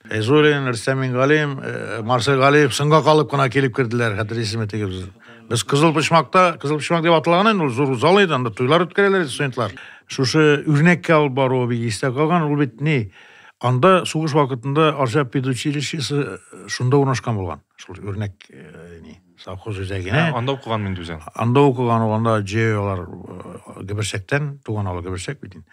Фәйзуллин, Рөстәм Мингалим, э, Марсель Галиев соңга калып кына килеп керделәр, хәтерлисезме теге без. Без Кызыл Почмакта, Кызыл Почмак дип аталган инде, ул зур зал иде, анда туйлар үткәрәләр иде студентлар. Шушы үрнәккә алып баруы бик истә калган, ул бит ни? Анда сугыш вакытында Арча педучилищесы шунда урнашкан булган. Шул үрнәк э, ни, совхоз үзәгенә. Анда укыган мин үзем. Анда укыган ул, анда җыялар э, Гөберсәктән, туган авыл Гөберсәк бит инде.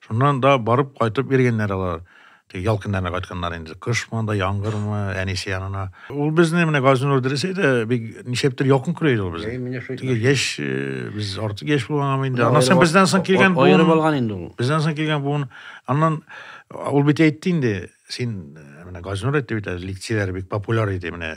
Шуннан да барып кайтып йөргәннәр алар. Теге ял көннәренә кайтканнар инде. Кышмы анда, яңгырмы, әнисе янына. Ул безне менә Газинур дөрес әйтә, бик ничәптер якын күрә иде ул безне. Әй, менә шул. Теге яшь, э, без артык яшь булганмы инде. Аннан соң бездән соң килгән буын. Аерып алган инде ул. Бездән соң килгән буын. Аннан ул бит әйтте инде, син э, менә Газинур әйтте бит әле, лекцияләре бик популяр иде менә.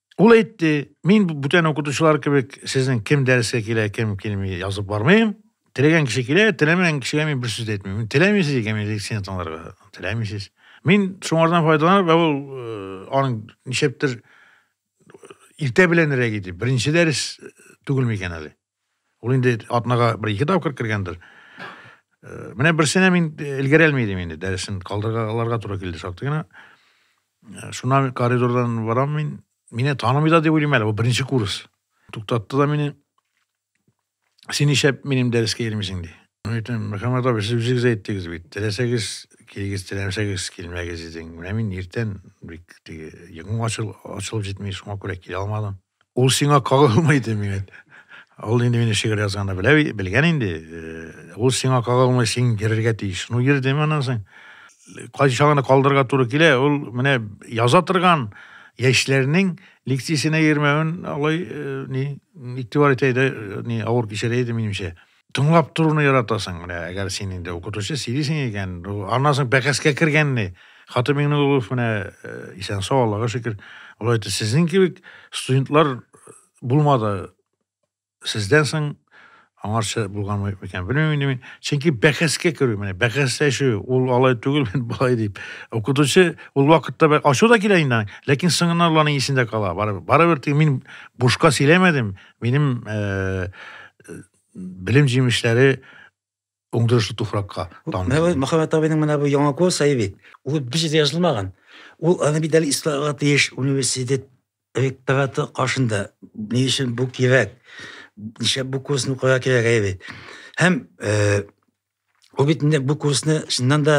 Ул әйтте, мин бүтән укытучылар кебек сезнең кем дәрескә килә, кем килми язып бармыйм. Теләгән кеше килә, теләмәгән кешегә мин бер сүз дә әйтмим. Теләмисез икән мин лекцияне тыңларга, теләмисез. Мин шуңардан файдаланып, ә ул э, аның ничәптер э, иртә беләнрәк иде. Беренче дәрес түгелме икән әле? Ул инде атнага бер ике тапкыр кергәндер. Э, менә берсенә мин элгәрә алмый идем инде, дәресен калдыргаларга туры килде шактый гына. Э, шуна коридордан барам мин, мине танымый да дип уйлыйм әле, бу беренче курс. Туктатты да мине. Син ишәп минем дәрескә йөрмисең ди. Мин әйтәм, Мөхәммәт абый, сез үзегез әйттегез бит, теләсәгез килегез, теләмәсәгез килмәгез идең. Менә мин иртән бик теге йогым ачылып җитми, шуңа күрә килә алмадым. Ул сиңа кагылмый иде мигән. Ул инде мине шигырь язганда белә, белгән инде. Э, ул сиңа кагылмый, син йөрергә тиеш. Ну йөрдем аннан соң. Кайчагына калдырга туры килә, ул менә яза торган яшьләрнең лекциясенә йөрмәвен алай э, ни игътибар итә иде, э, ни авыр кичерә иде минемчә. тыңлап торуны яратасың менә әгәр син инде укытучы сөйлисең икән аннан соң бәхәскә кергәнне хатын миңнуллов менә э, исән сау аллага шөкер ул әйтте сезнең кебек студентлар булмады сездән соң аңарча булган микән белмим инде мин чөнки бәхәскә керү менә бәхәсләшү ул алай түгел мин болай дип укытучы ул вакытта ачу да килә инде ләкин соңыннан аларның исендә кала барыбер барыбер мин бушка сөйләмәдем минем э, белем җимешләре уңдырышлы туфракка тамды. Мөхәммәт абыйның менә бу яңа курс ай бит. Ул бер җирдә язылмаган. Ул аны бит әле исламга тиеш университет ректораты каршында. Ни өчен бу кирәк? Ничә бу курсны укырга кирәк ай бит. Һәм э, Ул бит инде бу курсны чыннан да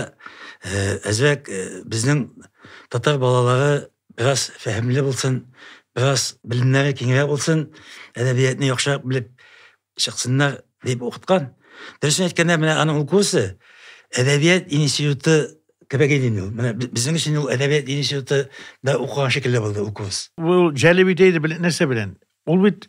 э, әзрәк э, безнең татар балалары бераз фәһемле булсын, бераз белемнәре киңрәк булсын, әдәбиятны яхшырак белеп чыксыннар дип укыткан. Дөресен әйткәндә, менә аның ул курсы әдәбият институты кебек иде инде ул. Менә безнең өчен ул әдәбият институты да укыган шикелле булды ул курс. Ул җәлеп итә иде белән нәрсә белән? Ул бит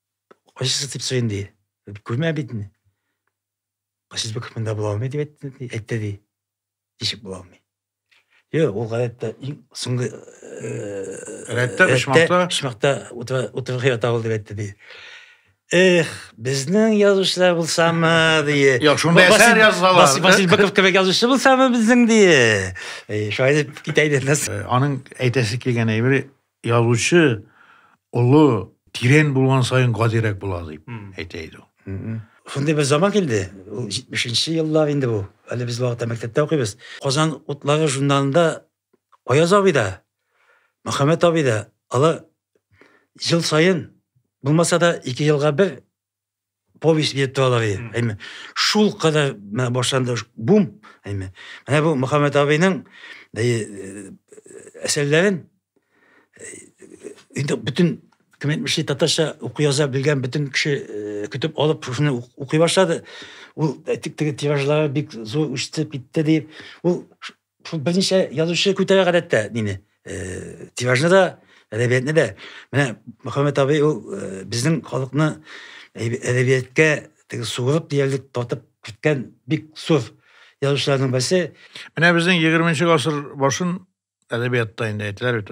Кайсысы дип сорыйм ди. Күрмә бит инде. Кайсысы бик монда була алмый дип әйтте ди. Әйтте ди. Ничек була алмый? Йо, ул гадәттә иң соңгы рәттә почмакта почмакта утыргы ята ул дип әйтте ди. Эх, безнең язучылар булсамы, ди. Йо, шунда әсәр язалар. Баси баси бакып кебек язучы булсамы безнең ди. Шулай дип китә иде. Аның әйтәсе килгән әйбере Язучы олы, тирән булган саен гадирәк була дип әйтә иде ул. Шундый бер заман килде, ул 70 нче еллар инде бу. Әле без вакытта мәктәптә укыйбыз. Казан утлары журналында Аяз абый да, Мөхәммәт абый да, алар ел саен, булмаса да, ике елга бер повесть бирде алар әйме шул кадәр менә башланды бум әйме менә бу мөхәммәт абыйның әсәрләрен инде бөтен кем әйтмешли татарча уку яза белгән бөтен кеше көтеп алып шушыны укый башлады ул теге тиражлары бик зур үсте китте дип ул Шул берничә язучы күтәрә гадәттә мине. Тиражны да, әдәбиятны да. Менә Мөхәммәт абый ул безнең халыкны әдәбияткә теге суырып диярлек тартып киткән бик зур язучыларның берсе. Менә безнең 20 гасыр башын әдәбиятта инде әйтәләр бит,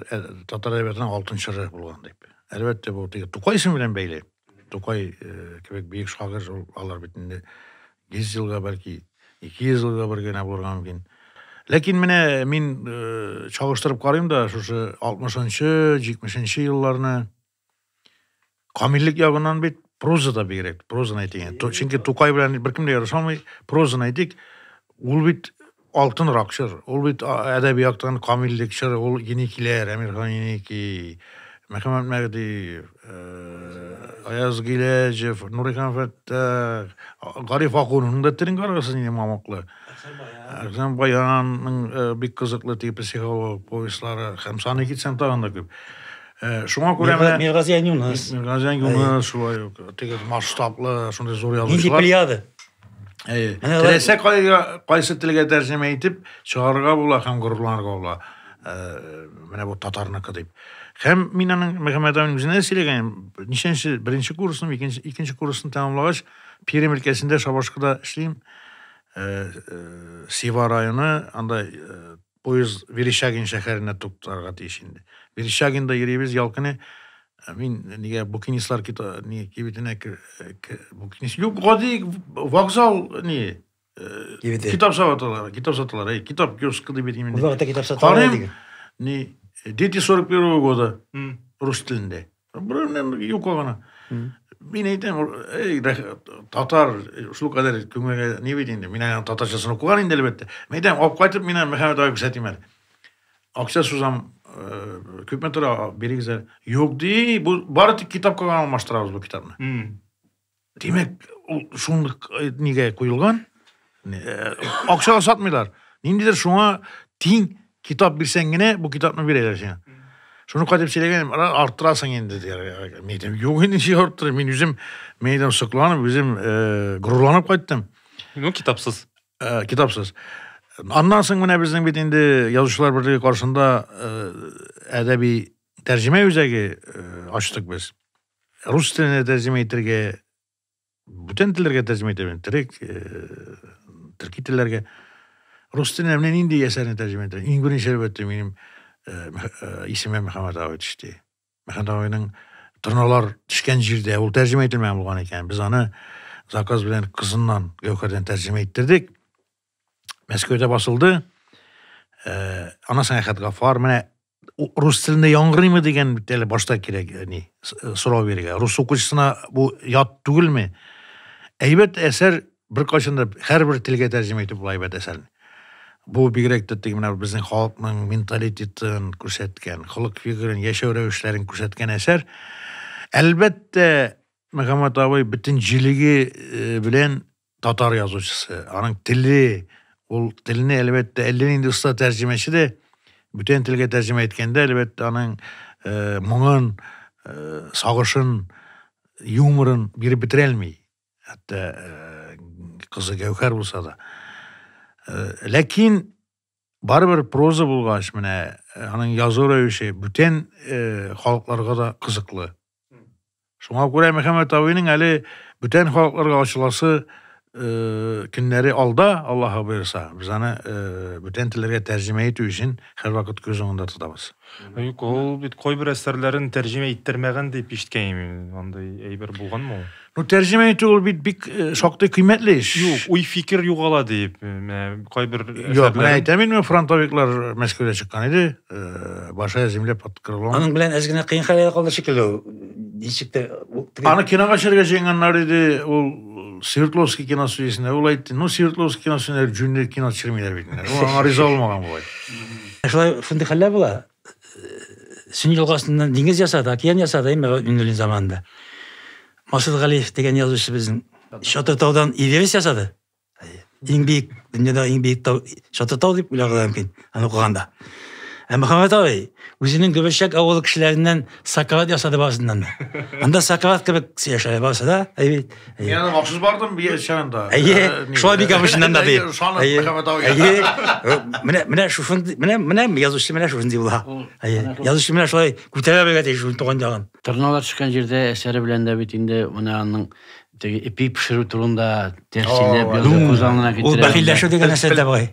татар әдәбиятының алтын чоры булган дип. Әлбәттә, бу теге Тукай исеме белән бәйле. Тукай э, кебек бөек шагыйрь ул алар бит инде 100 елга бәлки 200 елга бер генә булырга мөмкин. Ләкин менә мин э, чагыштырып карыйм да шушы 60-нчы, 70-нче елларны камиллек ягыннан бит проза да бигрәк, прозаны әйтик. Ту- Чөнки Тукай белән беркем дә ярыша алмый, прозаны әйтик. Ул бит Алтынрак чор. Ул бит әдәби яктан камиллек чоры, ул Еникиләр, Әмирхан Еники, Мөхәммәт Мәгъдиев, э, Аяз Гиләҗев, Нурихан Фәттах, Гариф Акунның да телен карагыз инде мамыклы. Әхсән Баянның э, бик кызыклы теге психолог повестлары һәм саны китсәм тагын да күп. Э, Шуңа күрә менә Миргазиян Юныс. Миргазиян Юныс шулай ук теге масштаблы, шундый зур Нинди язучылар. плеяда? Әйе. Теләсә кайга кайсы телгә тәрҗемә итеп чыгарырга була һәм горурланырга була. Э, менә бу татарныкы дип. Һәм мин аның Мөхәммәд абыйның үзенә сөйләгән, ничәнче беренче курсны, икенче икенче курсны тәмамлагач, Пермь өлкәсендә Шабашкада эшлим. Э, э, Сева районы, анда Поезд Верещагин шәһәренә туктарга тиеш инде. Верещагинда йөрибез ял көне. Э, мин нигә букинистлар ни кибетенә букинист юк, гади вокзал ни э, китап саталар, китап саталар, эй, китап киоскы дип әйтим инде. Бу вакытта китап саталар. Карыйм, ни, дети 41 года, рус телендә. Юка гына. Мин әйтәм, эй, татар, шул кадәр күңелгә ни бит инде. Мин аны татарчасын укыган инде әлбәттә. Мин әйтәм, алып кайтып мин Мөхәммәт ага күрсәтим әле. Акча сузам, күпме тора, бирегез әле. Юк ди, бу бары тик китапка гына алмаштырабыз бу китапны. Димәк, ул шунлык э, нигә куелган? Э, акчага сатмыйлар. Ниндидер шуңа тиң китап бирсәң генә, бу китапны бирәләр сиңа. Шуны кайтып сөйләгән, арттырасың инде дияр. Мин әйтәм, юк инде ничек арттырып, мин үзем, мин әйтәм, сокланып, үзем э, горурланып кайттым. Ну, китапсыз. Э, китапсыз. Аннан соң менә безнең бит инде язучылар берлеге каршында э, әдәби тәрҗемә үзәге э, ачтык без. Рус теленә тәрҗемә итергә, бүтән телләргә тәрҗемә итә беләм, төрек, э, төрки телләргә. Рус теленә менә нинди әсәрне тәрҗемә итә. Иң беренче әлбәттә минем э, э, исемә Мөхәммәт абый төште. Мөхәммәт абыйның торналар төшкән җирдә ул тәрҗемә ителмәгән булган икән. Без аны заказ белән кызыннан Гәүһәрдән тәрҗемә иттердек. Мәскәүдә басылды. Э, ана сәяхәт Гафар менә рус телендә яңгырыймы дигән бит әле башта кирәк ни э, сорау бирергә рус укучысына бу ят түгелме әйбәт әсәр беркайчан да һәрбер телгә тәрҗемә итеп була әйбәт әсәрне бу бигрәк тә теге менә безнең халыкның менталитетын күрсәткән холык фигырен яшәү рәвешләрен күрсәткән әсәр әлбәттә мөхәммәт абый бөтен җилеге э, белән татар язучысы, аның теле, ул телне әлбәттә әллә нинди оста тәрҗемәче дә бүтән телгә тәрҗемә иткәндә әлбәттә аның э, моңын, э, сагышын, юморын биреп бетерә алмый. Хәтта э, кызы Гәүһәр булса да. Э, ләкин Барыбер проза булгач, менә э, аның язу рәвеше бүтән э, халыкларга да кызыклы. Шуңа күрә Мөхәммәт абыйның әле бүтән халыкларга ачыласы э, көннәре алда, Аллаһы боерса, без аны э, бүтән телләргә тәрҗемә итү өчен һәрвакыт күз уңында тотабыз. Юк, ул бит кайбер әсәрләрен тәрҗемә иттермәгән дип ишеткән мин. Андый әйбер булганмы ул? Ну, тәрҗемә итү ул бит бик э, шактый кыйммәтле эш. Юк, уй фикер югала дип, э, менә кайбер Юк, менә әйтәм инде, фронтовиклар Мәскәүдә чыккан иде, э, Башая земля под крылом. Аның белән әз генә кыен хәлгә калды шикелле ул. Ничек тә Аны кинога төшерергә җыенганнар иде, ул Свердловский кино студиясендә ул әйтте, ну, Свердловский кино студиясендә җүнле кино төшермиләр бит. Ул аңа риза булмаган була. Ә шулай шундый хәлләр була. Сөнни елгасыннан диңгез ясады, океан ясады инде Миннуллин заманында. Масуд Галиев дигән язучы безнең Чатыртаудан Эверест ясады. Иң бик дөньяда иң бик тау Чатыртау дип уйлаган мөмкин, аны укыганда. Ә Мөхәммәт абый үзенең Гөберчәк авылы кешеләреннән Сократ ясады барысыннан да. Анда Сократ кебек сөйләшә барысы да. Мин аны махсус бардым бия чагында. Әйе, шулай бик абышыннан да бит. Әйе, әйе. Менә менә шушындый, менә менә язучы менә шушындый була. Әйе, язучы менә шулай күтәрә белгән тиеш шул туган ягын. Торналар чыккан җирдә әсәре белән дә бит инде менә аның теге ипи пешерү турында тәфсилләп язып күз алдына китерә. Ул бәхилләшү дигән әсәр дә бугай.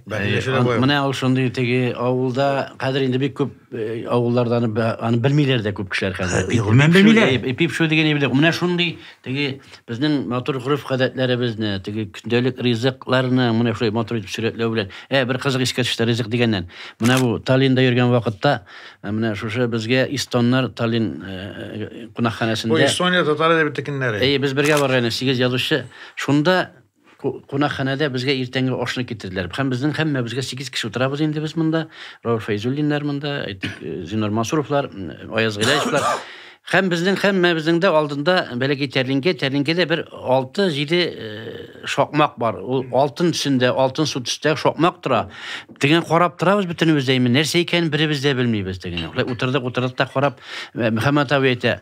Менә ул шундый теге авылда хәзер инде бик күп Э, авылларда аны аны белмиләр дә күп кешеләр хәзер. Э, гомумән белмиләр. Э, пип шул дигән әйбер. Менә шундый теге безнең матур гурф гадәтләребезне, теге көндәлек ризыкларны менә шулай матур итеп сурәтләү белән. Ә бер кызык искә төште ризык дигәннән. Менә бу Таллинда йөргән вакытта менә шушы безгә Истоннар Таллин кунакханәсендә. Бу Эстония татар әдәби текеннәре. Әйе, без бергә барган 8 язучы. Шунда Кунакханәдә безгә иртәнге ашны китерделәр. Һәм безнең һәммәбезгә сигез кеше утырабыз инде без монда. Рауф Фәйзуллиннар монда, әйтик, э, Зинор Мансуровлар, Аяз Гыйлаевлар. Һәм безнең һәммәбезнең дә алдында бәләкәй тәрлинкә, тәрлинкәдә бер 6-7 э, шакмак бар. Ул алтын төсендә, алтын су төстә шакмак тора. Теген карап торабыз бөтенебез дә, нәрсә икәнен беребез дә белмибез теген. Утырдык, утырдык та карап, Мөхәммәт абый әйтә,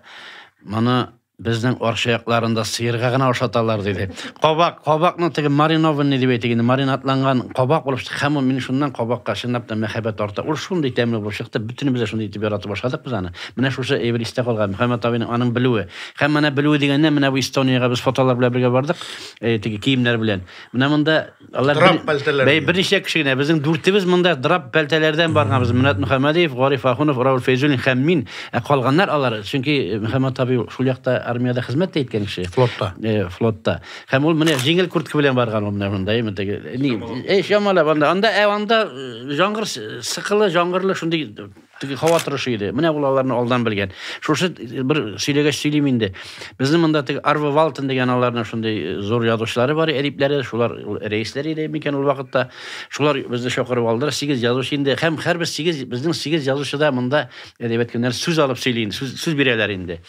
"Моны Безнең Арча якларында сыерга гына ашаталар, диде. Кабак, кабакны теге маринованный дип әйтик инде, маринадланган кабак булып чыкты. Һәм ул мин шуннан кабакка чынлап та мәхәббәт арта. Ул шундый тәмле булып чыкты, бөтенебез дә шундый итеп яратып ашадык без аны. Менә шушы әйбер истә калган, Мөхәммәт абыйның аның белүе. Һәм менә белүе дигәннән, менә бу Эстониягә без фотолар белән бергә бардык, теге киемнәр белән. Менә монда Алар драп бер- пәлтәләр. Бәй, берничә кеше генә. Безнең дүртебез монда драп пәлтәләрдән барганбыз. Мөнәт Мөхәммәдиев, Гариф Ахунов, Раул Фәйзуллин һәм мин. Ә калганнар алар, чөнки Мөхәммәт абый шул якта армиядә хезмәт тә иткән кеше. Флотта. Э, флотта. Һәм ул менә җиңел куртка белән барган ул менә монда, әйме теге. Ни, э, чамалап анда, анда, ә анда э, җаңгыр с- сыкылы, җаңгырлы шундый Теге һава торышы иде. Менә ул аларны алдан белгән. Шушы бер сөйләгәч сөйлим инде. Безнең монда теге Арва Валтен дигән аларның шундый э, зур язучылары бар, әдипләре, шулар рәисләр иде микән ул вакытта. Шулар безне чакырып алдылар, сигез язучы инде. Һәм һәрбез сигез, безнең сигез язучы да монда әдәбият көннәр сүз алып сөйли инде, сүз, сүз бирәләр инде.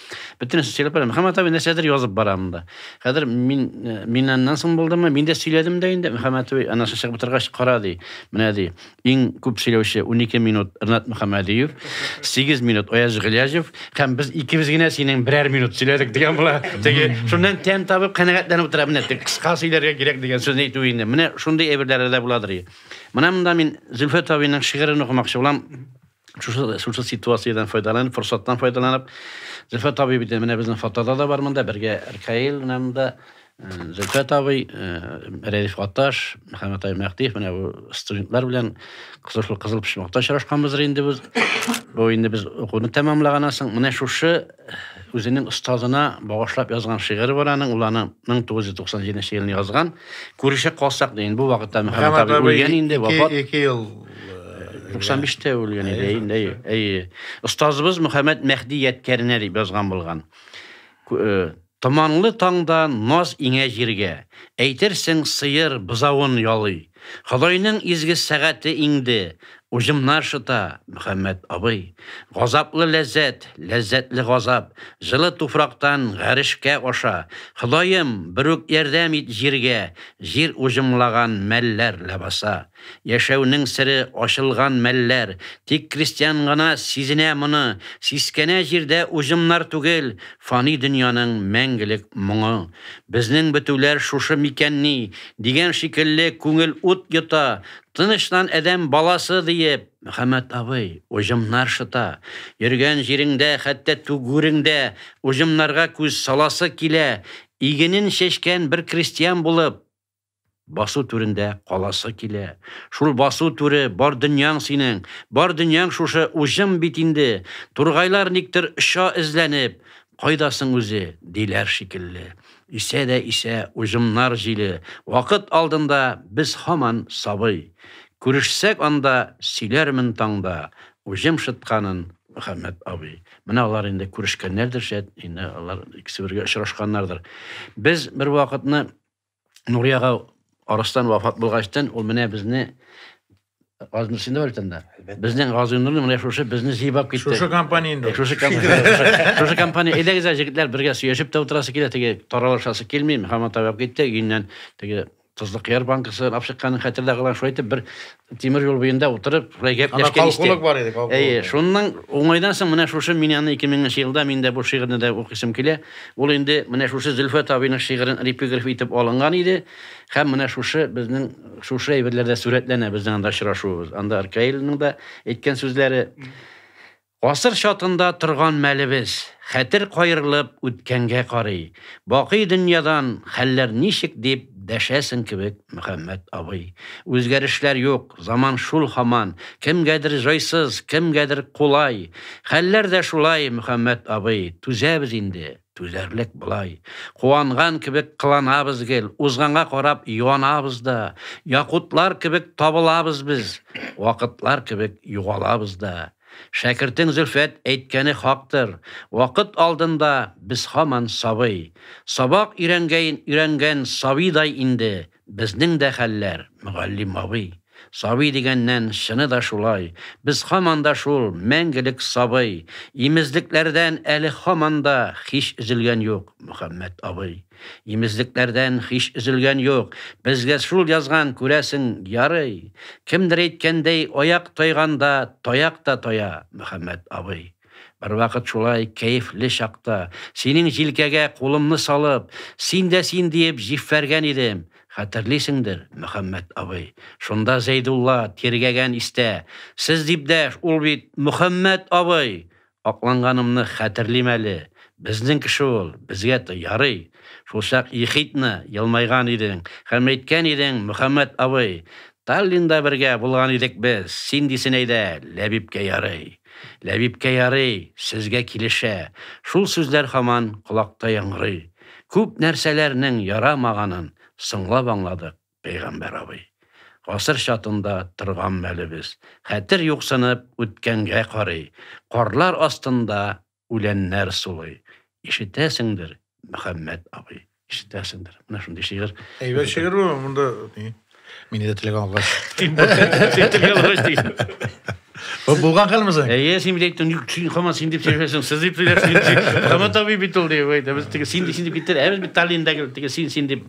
Бөтенесе сөйләп бара. Мөхәммәт абый нәрсәдер язып бара монда. Хәзер мин э, миннән соң булдымы? Мин дә сөйләдем дә инде. Мөхәммәт абый анасын чыгып утыргач кара ди. Менә ди. Иң күп сөйләүче унике минут Рнат Мөхәммәдиев, сигез минут Аяз Гыйләҗев һәм без икебез генә синең берәр минут сөйләдек дигән була. Теге шуннан тәм табып канәгатьләнеп утыра менә теге кыска сөйләргә кирәк дигән сүзне әйтү инде. Менә шундый әйберләре дә буладыр. Менә монда мин Зөлфәт абыйның шигырен укымакчы булам. Шушы, шушы ситуациядән файдаланып, форсаттан файдаланып, Зөлфәт табиб иде, менә безнең фотода да бар монда, бергә Ркаил менә монда, Зөлфә табый, Рәдиф Гатташ, Мөхәммәт Ай Мәхтиев, менә бу студентлар белән кызыл кызыл почмакта очрашканбыздыр инде без. Бу инде без укуны тәмамлаганнан соң, менә шушы Үзенең остазына багышлап язган шигыре бар аның, ул аны 1997 елны язган. Күрешә калсак дигән, бу вакытта Мөхәммәт абый үлгән инде, вафат. 2 ел 95-тә үлгән иде инде. Әйе. Остазыбыз Мөхәммәт Мәхди ядкәренә дип язган булган. Томанлы таңда наз иңә җиргә, Әйтерсең, сыер бозавын ялый. Ходайның изге сәгате иңде, Уҗымнар шыта, Мөхәммәт абый. Газаплы ләззәт, ләззәтле газап, Җылы туфрактан гарешкә аша. Ходаем, берүк ярдәм ит җиргә, Җир уҗымлаган мәлләр ләбаса. Яшәүнең сере ачылган мәлләр, тик крестьян гына сизенә моны, сискәнә җирдә уҗымнар түгел, фани дөньяның мәңгелек моңы. Безнең бетүләр шушы микәнни? дигән шикелле күңел ут йота, тынычлан адәм баласы, диеп, Мөхәммәт абый уҗымнар шыта, йөргән җиреңдә, хәтта түгүреңдә уҗымнарга күз саласы килә, игенен чәчкән бер крестьян булып, Басу түрендә каласы килә. Шул басу түре, бар дөньяң синең. Бар дөньяң шушы уҗым бит инде. Тургайлар никтер оча эзләнеп. Кайда соң үзе? диләр шикелле. Исә дә исә уҗымнар җиле. Вакыт алдында без һаман сабый. Күрешсәк анда, сөйләрмен таңда уҗым шытканын, Мөхәммәт абый. Менә алар инде күрешкәннәрдер, шәт, инде алар икесе бергә очрашканнардыр. Без бервакытны Нуриага арыстан вафат булгачтан ул менә безне Газны син дә өлтәндә. Безнең газынны менә шушы безне җыйбап китте. Шушы компания инде. Э, шушы компания. Шушы компания. Әйдәгез, җегетләр, бергә сөйләшеп тә утырасы килә, теге таралышасы килми, һаман табып китте, өеннән теге тозлы кыяр банкасы алып чыкканын хәтерлә калган, шулай итеп бер Тимер юл буенда утырып, шулай гәпләшкән истә. Калкулык бар иде, калкулык. Әйе, шунның уңайдан соң менә шушы Миняны 2000 нче елда мин дә бу шигырьне дә укыйсым килә. Ул инде менә шушы Зөлфәт абыйның шигырен репиграф итеп алынган иде һәм менә шушы безнең шушы әйберләрдә сурәтләнә безнең анда очрашуыбыз. Анда Аркаилның да әйткән сүзләре. Гасыр чатында торган мәлебез, хәтер каерылып үткәнгә карый, бакый дөньядан хәлләр ничек дип дәшәсең кебек, Мөхәммәт абый. Үзгәрешләр юк, заман шул һаман, кемгәдер җайсыз, кемгәдер кулай. Хәлләр дә шулай, Мөхәммәт абый, түзәбез инде, түзәрлек болай. Куанган кебек кыланабыз гел, узганга карап юанабыз да. Якутлар кебек табылабыз без, вакытлар кебек югалабыз да. Шәкертең Зөлфәт әйткәне хактыр, вакыт алдында без һаман сабый. Сабак өйрәнгәен өйрәнгән сабыйдай инде безнең дә хәлләр, мөгаллим абый. Сабый дигәннән, чыны да шулай, без һаман да шул мәңгелек сабый. Имезлекләрдән әле һаман да һич өзелгән юк, Мөхәммәт абый. Имезлекләрдән һич өзелгән юк. Безгә шул язган, күрәсең, ярый. Кемдер әйткәндәй, аяк тайганда, таяк та тая, Мөхәммәт абый. Бервакыт шулай кәефле чакта, синең җилкәгә кулымны салып, син дә син диеп җиффәргән идем, хәтерлисеңдер, Мөхәммәт абый. Шунда Зәйдулла тиргәгән истә. Сез дип дәш, ул бит Мөхәммәт абый! Акланганымны хәтерлим әле. Безнең кеше ул, безгә ярый. Шулчак ехидно елмайган идең һәм әйткән идең, Мөхәммәт абый, Таллинда бергә булган идек без, син дисен әйдә, Ләбибкә ярый. Ләбибкә ярый, сезгә килешә. Шул сүзләр һаман колакта яңгырый. Күп нәрсәләрнең ярамаганын соңлап аңладык. Пәйгамбәр абый. Гасыр чатында торган мәлебез. Хәтер юксынып, үткәнгә карый. Карлар астында үләннәр сулый. Ишетәсеңдер, Мөхәммәт абый, ишетәсеңдер. Менә шундый шигырь. Әйбәт шигырь бу, монда ни? Мине дә теләгән алгач. Теләгән алгач диген. Бу булган хәлме соң? Әйе, син бит әйттең, юк, син хаман син дип сөйләшәсең, сез дип сөйләшәсең. Хаман табиб бит ул дип әйтә. Без теге син дип син дип киттер, ә без бит Таллиндәге теге син син дип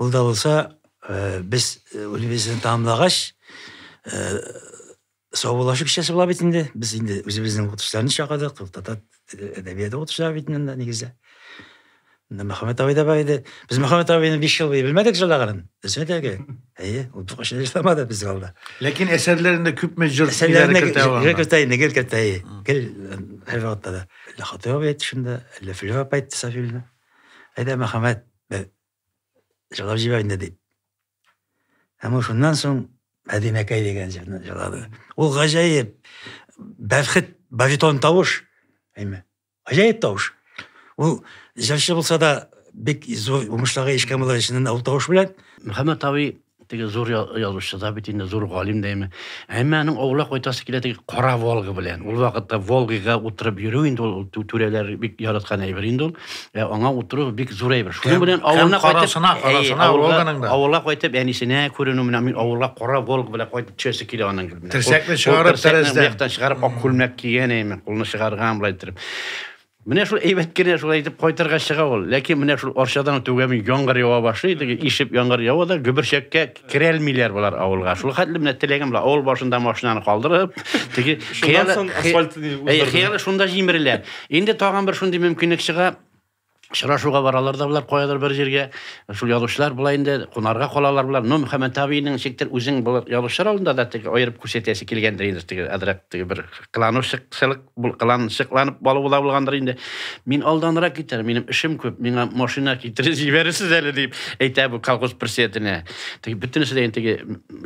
Ул да булса, без үлебезне тамамлагач, саубуллашып кичәсе була бит инде. Без инде үзебезнең укытучыларны чакырдык, татар әдәбияты укытучылары бит инде нигездә. Менә Мөхәммәт абый да бар иде. Без Мөхәммәт абыйны 5 ел буе белмәдек җырлаганын. Дөресен әйтергә. Әйе, ул бу кеше җырламады без алда. Ләкин әсәрләрендә күпме җыр әсәрләрендә кертә ул. Гел кертә инде, гел кертә. Гел һәр вакытта да. Ләхатый абый әйтте шунда, Ләфләп әйтте Сафилне. Әйдә, Мөхәммәт, Бер җырлап җибәр инде дип. Әмма шуннан соң Мәдинәкәй дигән җырны җырлады. Ул гаҗәеп бәхет баритон тавыш. Әйме. Гаҗәеп тавыш. Ул җырчы булса да бик зур уңышларга ирешкән була ул тавыш белән. Мөхәммәт абый Теге зур язучы да бит инде, зур галим дәйме. Әмма аның авылга кайтасы килә теге кара Волга белән. Ул вакытта Волгага утырып йөрү инде ул түрәләр бик яраткан әйбер инде ул. Ә аңа утыру бик зур әйбер. Шуның белән авылга карасына, карасына Волганың да. Авылга кайтып әнисенә күренү менә мин авылга кара Волг белән кайтып төшәсе килә аның гел. Терсәкне чыгарып, тәрәздән чыгарып, ак күлмәк кигән әйме, кулны чыгарган булай итеп. Менә шул әйбәт кенә шулай итеп кайтырга чыга ул. Ләкин менә шул Арчадан түгәми яңгыр ява башлый, теге ишеп яңгыр ява да гөберчәккә керәлмиләр болар авылга. Шул хәтле менә теләгем була, авыл башында машинаны калдырып, теге хыялы хыялы шунда җимерелә. Инде тагын бер шундый мөмкинлек чыга. Шырашуга баралар да болар каядыр бер җиргә. Шул язучылар болай инде кунарга калалар болар. Но Мөхәммәт абыйның ничектер үзең булып язучылар алдында да теге аерып күрсәтәсе килгәндер инде теге адрак теге бер кланушык сылык кыланчыкланып балу да булгандыр инде. Мин алданрак китәр, минем эшем күп, миңа машина китереп җибәрерсез әле дип әйтә бу колхоз председателенә. Теге бөтенесе дә инде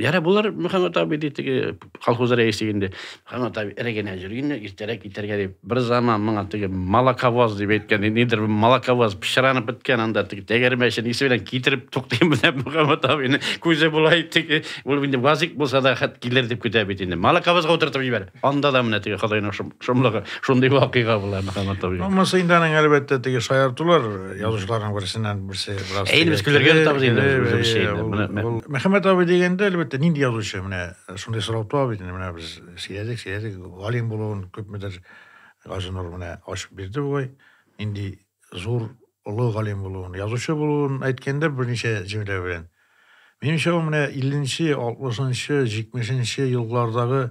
яра булыр Мөхәммәт абый ди теге колхоз рәисе инде. Мөхәммәт абый эре генә йөр инде, иртәрәк китәргә дип. Бер заман моңа теге молоковоз дип әйткән, нидер молоковоз пычранып беткән анда теге тәгәрмәчен исе белән китереп туктый менә Мөхәммәт абыйны күзе болай теге ул инде вазик булса да хәт килер дип көтә бит инде. Молоковозга утыртып җибәр. Анда да менә теге Хыдайның шомлыгы, шундый вакыйга була Мөхәммәд Табигый. Булмаса инде аның әлбәттә теге шаяртулар язучыларның берсеннән берсе бераз. Әй, без көләргә тотабыз инде үзебезчә инде. Мөхәммәд абый дигәндә, әлбәттә, нинди язучы менә шундый сорау туа бит инде менә без сөйләдек, сөйләдек, галим булуын күпмедер Газинур менә ачып бирде бугай. Нинди зур, олы галим булуын, язучы булуын әйткәндер берничә җөмлә белән. Минемчә, ул менә 50 нче, 60 нчы, 70 нче еллардагы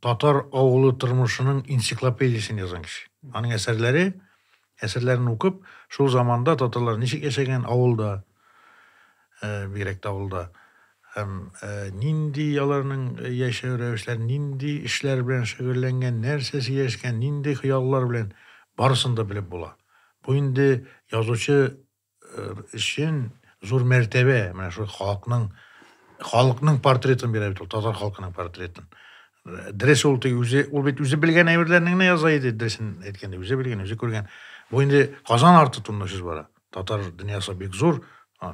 татар авылы тормышының энциклопедиясен язган кеше. Аның әсәрләре, әсәрләрен укып, шул заманда татарлар ничек яшәгән авылда, бигрәк тә авылда. Һәм нинди аларның яшәү рәвешләре, нинди эшләр белән шөгыльләнгән, нәрсә сөйләшкән, нинди хыяллар белән барысын да белеп була. Бу инде язучы өчен зур мәртәбә, менә шул халыкның халыкның портретын бирә бит ул, татар халкының портретын. Дрес ул тик үзе, ул бит үзе белгән әйберләрне генә яза иде, дресен әйткәндә, үзе белгән, үзе күргән. Бу инде Казан арты турында сүз бара. Татар дөньясы бик зур.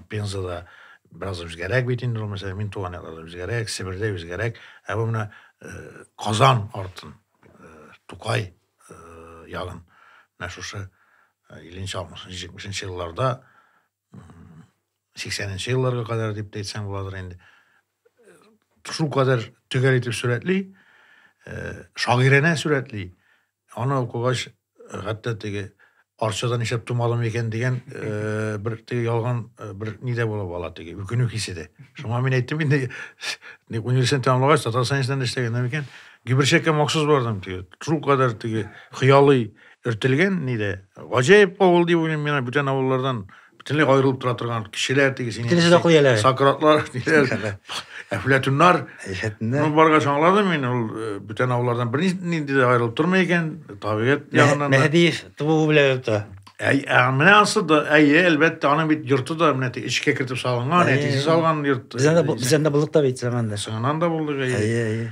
Пензада бераз үзгәрәк бит инде ул мәсәлән мин туган якларда үзгәрәк себердә үзгәрәк ә бу менә э, казан артын э, тукай э, ягын менә шушы илленче алтмышынчы җитмешенче елларда сиксәненче елларга кадәр дип әйтсәң буладыр инде шул кадәр төгәл итеп сурәтли, шагыйрәнә сурәтли. Аны укыгач, хәтта теге арчада нишләп тумадым икән дигән э, бер теге ялган э, бер ни дә булып ала теге үкенү хисе дә шуңа мин әйттем инде университет тәмамлагач татар сәнәсеннән эшләгәннән икән гиберчәккә махсус бардым теге шул кадәр теге хыялый өртелгән ни дә гаҗәеп авыл дип уйлыйм мин бүтән авыллардан бөтенләй аерылып тора торган кешеләр тегесе Бөтенесе дә акыл ияләре. сократлар ниләр әфләтүннар Әфләтүннәр. Ну, баргач аңладым мин ул э, бүтән авыллардан бернинди дә аерылып тормый икән табигать ягыннан да Мәһдиев тубуы белән аерылып тора. Әй, ә, менә ансы да әйе әлбәттә аның бит йорты да менә те- эчкә кертеп салынган Әйе. әтисе салган йорт Бездән дә бу- бездән дә булдык та бит заманда. сыңанан да булдык әйе Әйе, әйе.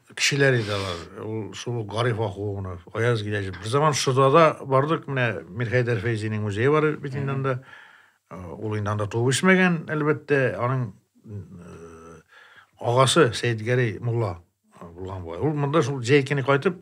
Кешеләр иде алар. Ул шул ук Гариф Ахугунов, Аяз Гиләҗев. Бер заман Шырдада бардык, менә Мирхәйдәр Фәйзинең музее бар бит инде анда. Э, ул инде анда туып үсмәгән, әлбәттә, аның э, агасы Сәйдгәрәй мулла э, булган бугай. Ул монда шул җәй көне кайтып,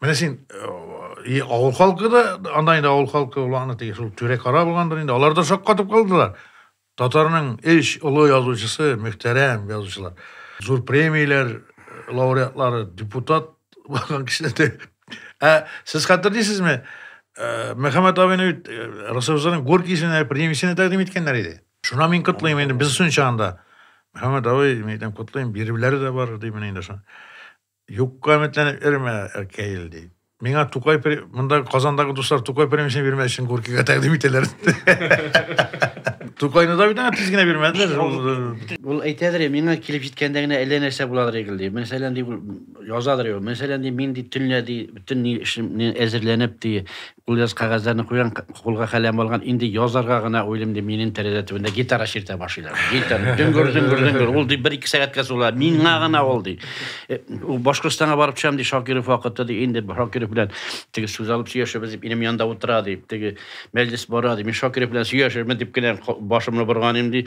Менә син и авыл халкы да анда инде авыл халкы булганда теге шул түрә кара булгандыр инде алар да шаккатып калдылар татарның эш олы язучысы мөхтәрәм язучылар зур премияләр лауреатлары депутат булган кешеләр дә ә сез хәтерлисезме Мөхәммәт абыйны бит Росовзаның Горкисенә премиясенә тәкъдим иткәннәр иде. Шуна мин котлыйм инде, без сонча анда. Мөхәммәт абый, мин әйтәм, котлыйм, бирүләре дә бар, ди менә инде шуны. Юкка өметләнеп йөрмә, Ркаил, ди. Миңа Тукай при... монда Казандагы дуслар Тукай премиясен бирмәс өчен Горкийга тәкъдим итәләр. Тукайны да бит аңа тиз генә бирмәделәр. Ул әйтәдер, миңа килеп җиткәндә генә әллә нәрсә буладыр игел, ди. Мәсәлән, ди, язадыр ул. Мәсәлән, ди, мин ди төнлә ди, бөтен ни эшемне әзерләнеп ди, Кулъязу кәгазьләрне куйган, кулга каләм алган, инде язарга гына уйлыйм, ди, минем тәрәзә төбендә гитара чиртә башлыйлар. Гитара, дөңгөр, дөңгөр, дөңгөр. Ул, ди, бер-ике сәгатькә сула. Миңа гына ул, ди. Э, Башкортстанга барып төшәм, ди, Шакиров вакыты, ди, инде Шакиров белән теге сүз алып сөйләшәбез, дип, инем янында утыра, ди, теге мәҗлес бара, ди, мин Шакиров белән сөйләшермен, дип кенә башымны борган идем, ди,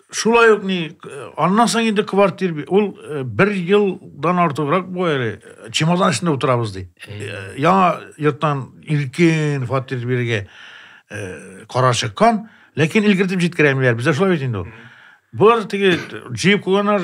Шулай ук ни, аннан соң инде квартир ул э, бер елдан артыграк бу әле э, чемодан эчендә утырабыз ди. Э, яңа йорттан илкен фатир бирергә кара чыккан, ләкин илгертеп җиткерәмиләр. Бездә шулай бит инде ул. Булар теге җыеп куйганнар,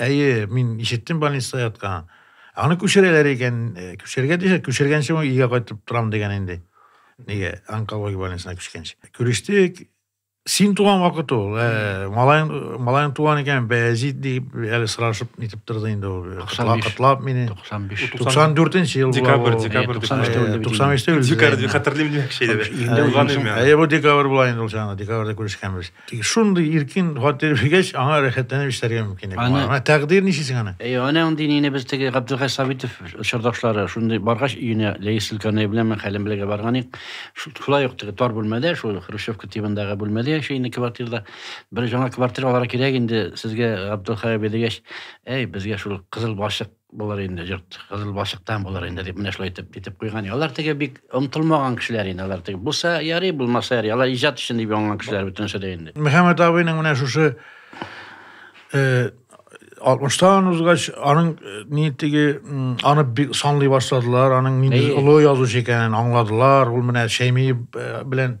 Әйе, мин ишеттем больниста яткан. Аны күчерәләр икән, э, күчергә дисә, күчергәнче мин өйгә кайтып торам дигән инде. Нигә? Онкология больницасына күчкәнче. Күрештек. Син туган вакыт ул. Э, малаең, малаең туган икән, Бәязид дип әле сорашып нитеп торды инде ул. Котлап, котлап мине. 95. 94-нче ел Декабрь, була. декабрь. 95-тә үлде бит. 95-тә үлде. Декабрь, хәтерлим димәк, шәйләбә. Инде Булган үлгән име? Әйе, бу декабрь була инде ул чагында, декабрьдә күрешкәнбез. Тик шундый иркен фатир биргәч, аңа рәхәтләнеп эшләргә мөмкин. Аны... Ана тәкъдир ничесең аны? Әй, аны андый нине без теге Габделхәй Сабитов чордашлары шундый баргач өенә Ләис Илканай белән мен хәлен белергә барган идек. Шулай ук теге тар бүлмәдә, шул Хрущевка тибындагы бүлмәдә яши инде квартирда. Бер жаңа квартиралар кирәк инде сезгә Габделхәй абый дигәч, әй, безгә шул кызыл башык Булыр инде, җырт кызыл балчыктан булыр инде дип менә шулай итеп итеп куйган. Алар теге бик омтылмаган кешеләр инде, алар теге булса ярый, булмаса ярый. Алар иҗат өчен дип яңган кешеләр бөтенесе дә инде. Мөхәммәт абыйның менә шушы 60-тан узгач, аның ни теге аны бик санлый башладылар, аның нинди олы язучы икәнен аңладылар. Ул менә Шәймиев белән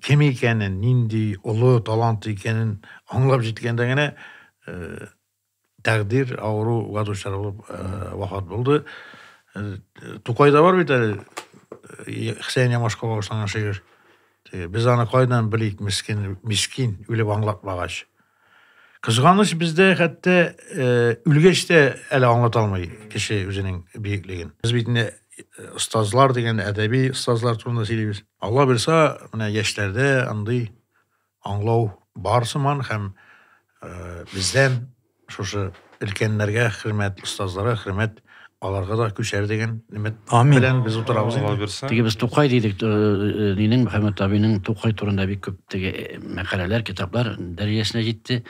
кем икәнен, нинди олы талант икәнен аңлап җиткәндә генә э, тәкъдир авыруга дучар булып э, вафат булды. Э, Тукайда бар бит әле э, Хсән Ямашка багышланган шигырь. Теге, Без аны кайдан белик, мискин, мискин, үлеп аңлатмагач. Кызганыч бездә хәтта э, үлгәч тә әле аңлата алмый кеше үзенең бөеклеген. Без бит инде остазлар э, дигән әдәби остазлар турында сөйлибез. Алла бирса, менә яшьләрдә андый аңлау бар сыман һәм э, бездән шушы Өлкәннәргә хөрмәт, остазларга хөрмәт, аларга да күчәр дигән өмет белән без утырабыз инде. Теге без Тукай дидек, нинең, Мөхәммәт абыйның Тукай турында бик күп теге мәкаләләр, китаплар дәрәҗәсенә җитте.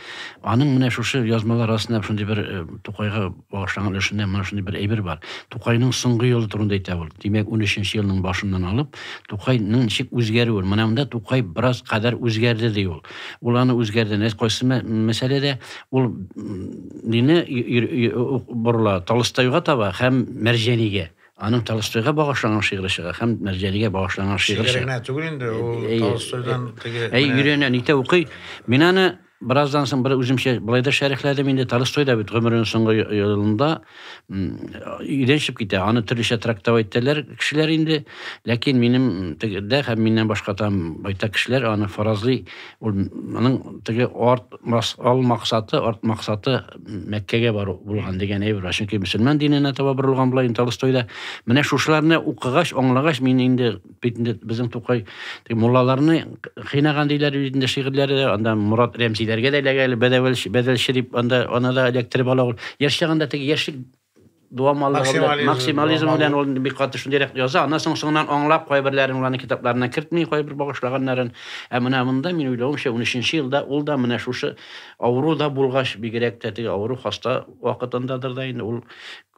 Аның менә шушы язмалар арасында шундый бер Тукайга багышланган өлешендә менә шундый бер әйбер бар. Тукайның соңгы елы турында әйтә ул. Димәк, 13-нче елның башыннан алып, Тукайның ничек үзгәрүен, менә монда Тукай бераз кадәр үзгәрде, ди ул. Ул аны үзгәрде, кайсы мәсьәләдә, ул дине борыла Толстойга таба һәм Мәрҗәнигә. Аның Толстойга багышланган шигыре чыга һәм Мәрҗәнигә багышланган шигыре чыга. Шигыренә түгел инде, ул Толстойдан теге. Әй, өйрәнә, нитә укый. Мин аны бераздан соң бер үземчә болай да шәрехләдем инде. Толстой да бит гомеренең соңгы елында өйдән китә аны төрлечә трактовать итәләр кешеләр инде ләкин минем тегедә һәм миннән башка там байтак кешеләр аны фаразлый ул моның теге арт ал максаты арт максаты мәккәгә бару булган дигән әйбер бар чөнки мөселман диненә таба борылган була инде толстойда менә шушыларны укыгач аңлагач мин инде бит инде безнең тукай муллаларны кыйнаган диләр бит инде шигырьләре анда морат рәмзиләргә дә эләгә әле бәдәвәлче бәдәлче дип анда аны да эләктереп ала ул яшь чагында теге яшьлек дуамаллыгы белән максимализм белән ул бик каты шундыйрак яза аннан соң соңыннан аңлап кайберләрен уларның китапларына кертми кайбер багышлаганнарын ә менә монда мин уйлавымча унөченче елда ул да менә шушы авыру да булгач бигрәк тә теге авыру хаста вакытындадыр да инде ул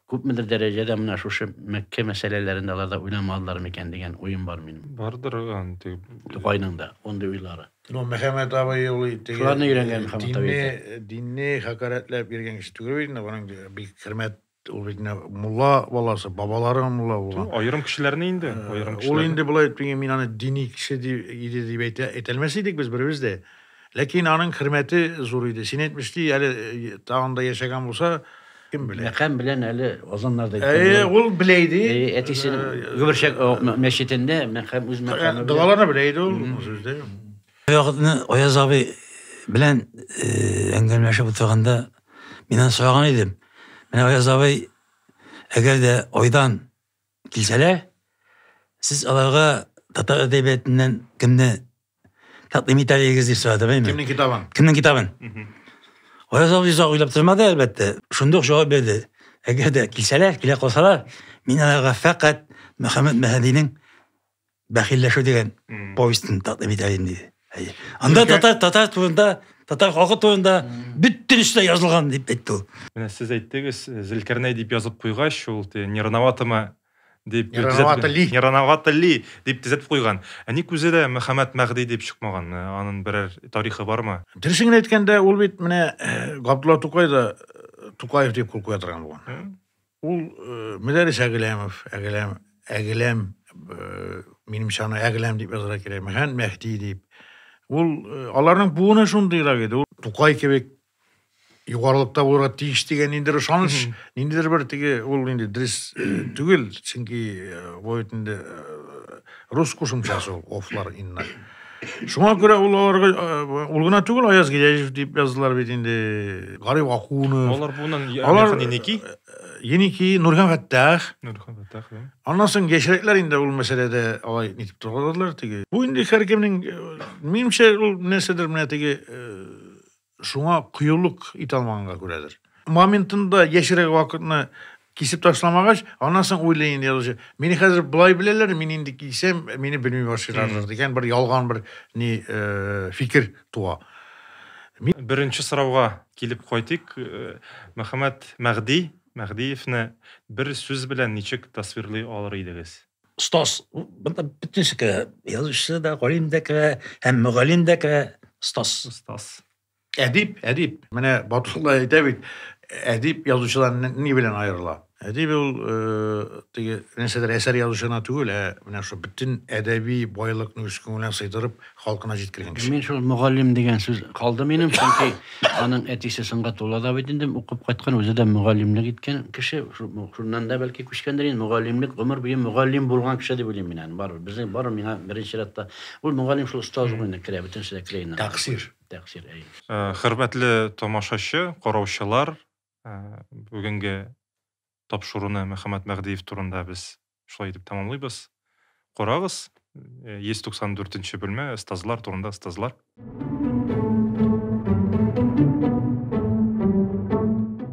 Күпмедер дәрәҗәдә менә шушы Мәккә мәсьәләләрен дә алар да уйламадылар микән дигән уем бар минем. Бардыр анты. Тукайның да мондый уйлары. Ну, Мөхәммәт абый ул инде Шуларны өйрәнгән Мөхәммәт абый. Динне, динне хакарәтләп йөргән кеше түгел бит инде, аның бик хөрмәт ул бит инде мулла баласы, бабалары мулла булган. Аерым кешеләрне инде, аерым кешеләр. Ул инде болай мин аны дини кеше дип иде дип әйтә, әйтәлмәс идек без беребез дә. Ләкин аның хөрмәте зур иде. Син әйтмешли, әле тагын да яшәгән булса, кем белә. Мәкам белән әле азаннарда Әйе, ул белә иде. Әтисе Гөберчәк мәчетендә мәкам үз мәкаме. Догаларны белә иде ул сүздә. Ягытны Аяз абый белән әңгәмәшеп утырганда мин аны сораган идем. Менә Аяз абый әгәр дә айдан килсәләр, сез аларга татар әдәбиятыннан кемне Тәкъдим итә егез дип сорады бәйме? Кемнең китабын? Кемнең китабын? Аяз абый озак уйлап тормады, әлбәттә. Шунда ук җавап бирде. Әгәр дә килсәләр, килә калсалар, мин аларга фәкать Мөхәммәд Мәһәдинең Бәхилләшү дигән повестен тәкъдим итә идем диде. Әйе. Анда татар татар турында, татар халкы турында бөтен эшләр язылган дип әйтте ул. Менә сез әйттегез, Зелкәрнәй дип язып куйгач, ул не рановатымы дип Не рановато ли? Не рановато ли? дип төзәтеп куйган. Ә ник үзе дә Мөхәммәд Мәгъди дип чыкмаган? Ә, Анын берәр тарихы бармы? Дөресен генә әйткәндә, ул бит менә э, Габдулла Тукай да э, Тукаев дип кул куя торган булган. М? Ул э, Мөдәррис Әгеләмов, Әгеләм, Әгеләм, э, минемчә аны Әгеләм дип язарга кирәк, Мөхәммәд Мәһди дип. Ул э, аларның буыны шундыйрак иде. Ул Тукай кебек югарылыкта булырга тиеш дигән ниндидер ышаныч ниндидер бер теге ул инде дөрес түгел чөнки бу бит инде рус кушымчасы ул офлар инна шуңа күрә ул аларга ул гына түгел аяз гиләҗев дип яздылар бит инде гариф акунов алар буның алар еники еники нурхан фәттах нурхан фәттах аннан соң яшьрәкләр инде ул мәсьәләдә алай нитеп торгадылар теге бу инде һәркемнең минемчә ул нәрсәдер менә теге Шуңа кыюлык итә алмаганга күрәдер. Моментында яшьрәк вакытны кисеп ташламагач, аннан соң уйлый инде язучы. Мине хәзер болай беләләр, мин инде кисәм, мине белми башлыйлардыр дигән бер ялган бер ни э, фикер туа. Мин... Беренче сорауга килеп кайтыйк. Э, Мөхәммәд Мәгъди Мәгъдиевне бер сүз белән ничек тасвирлый алыр идегез? Стас, бында бөтен эше керә. Язучы да, галим дә керә, һәм мөгаллим дә керә. Стас. Стас. Әдип, әдип. Менә Батулла әйтә бит, әдип язучыдан ни белән аерыла? Әдип ул э, теге нәрсәдер әсәр язучына түгел, ә менә шул бөтен әдәби байлыкны үз күңеленә сыйдырып, Халкына җиткергән кеше. Мин шул мөгаллим дигән сүз калды минем, чөнки аның әтисе сынгат ула да бит инде укып кайткан, үзе дә мөгаллимлек иткән кеше, шуннан да бәлки күчкәндер инде, мөгаллимлек гомер буе мөгаллим булган кеше дип уйлыйм мин аны, барыбер. Безнең бар миңа беренче рәттә ул мөгаллим шул остаз ук инде керә, бөтенесе дә керә инде. Тәкъсир. Тәкъсир, әй. Хөрмәтле тамашачы, караучылар, бүгенге тапшыруны Мөхәммәт Мәгъдиев турында без шулай итеп тәмамлыйбыз. Карагыз, 194 нче бүлмә, остазлар турында остазлар.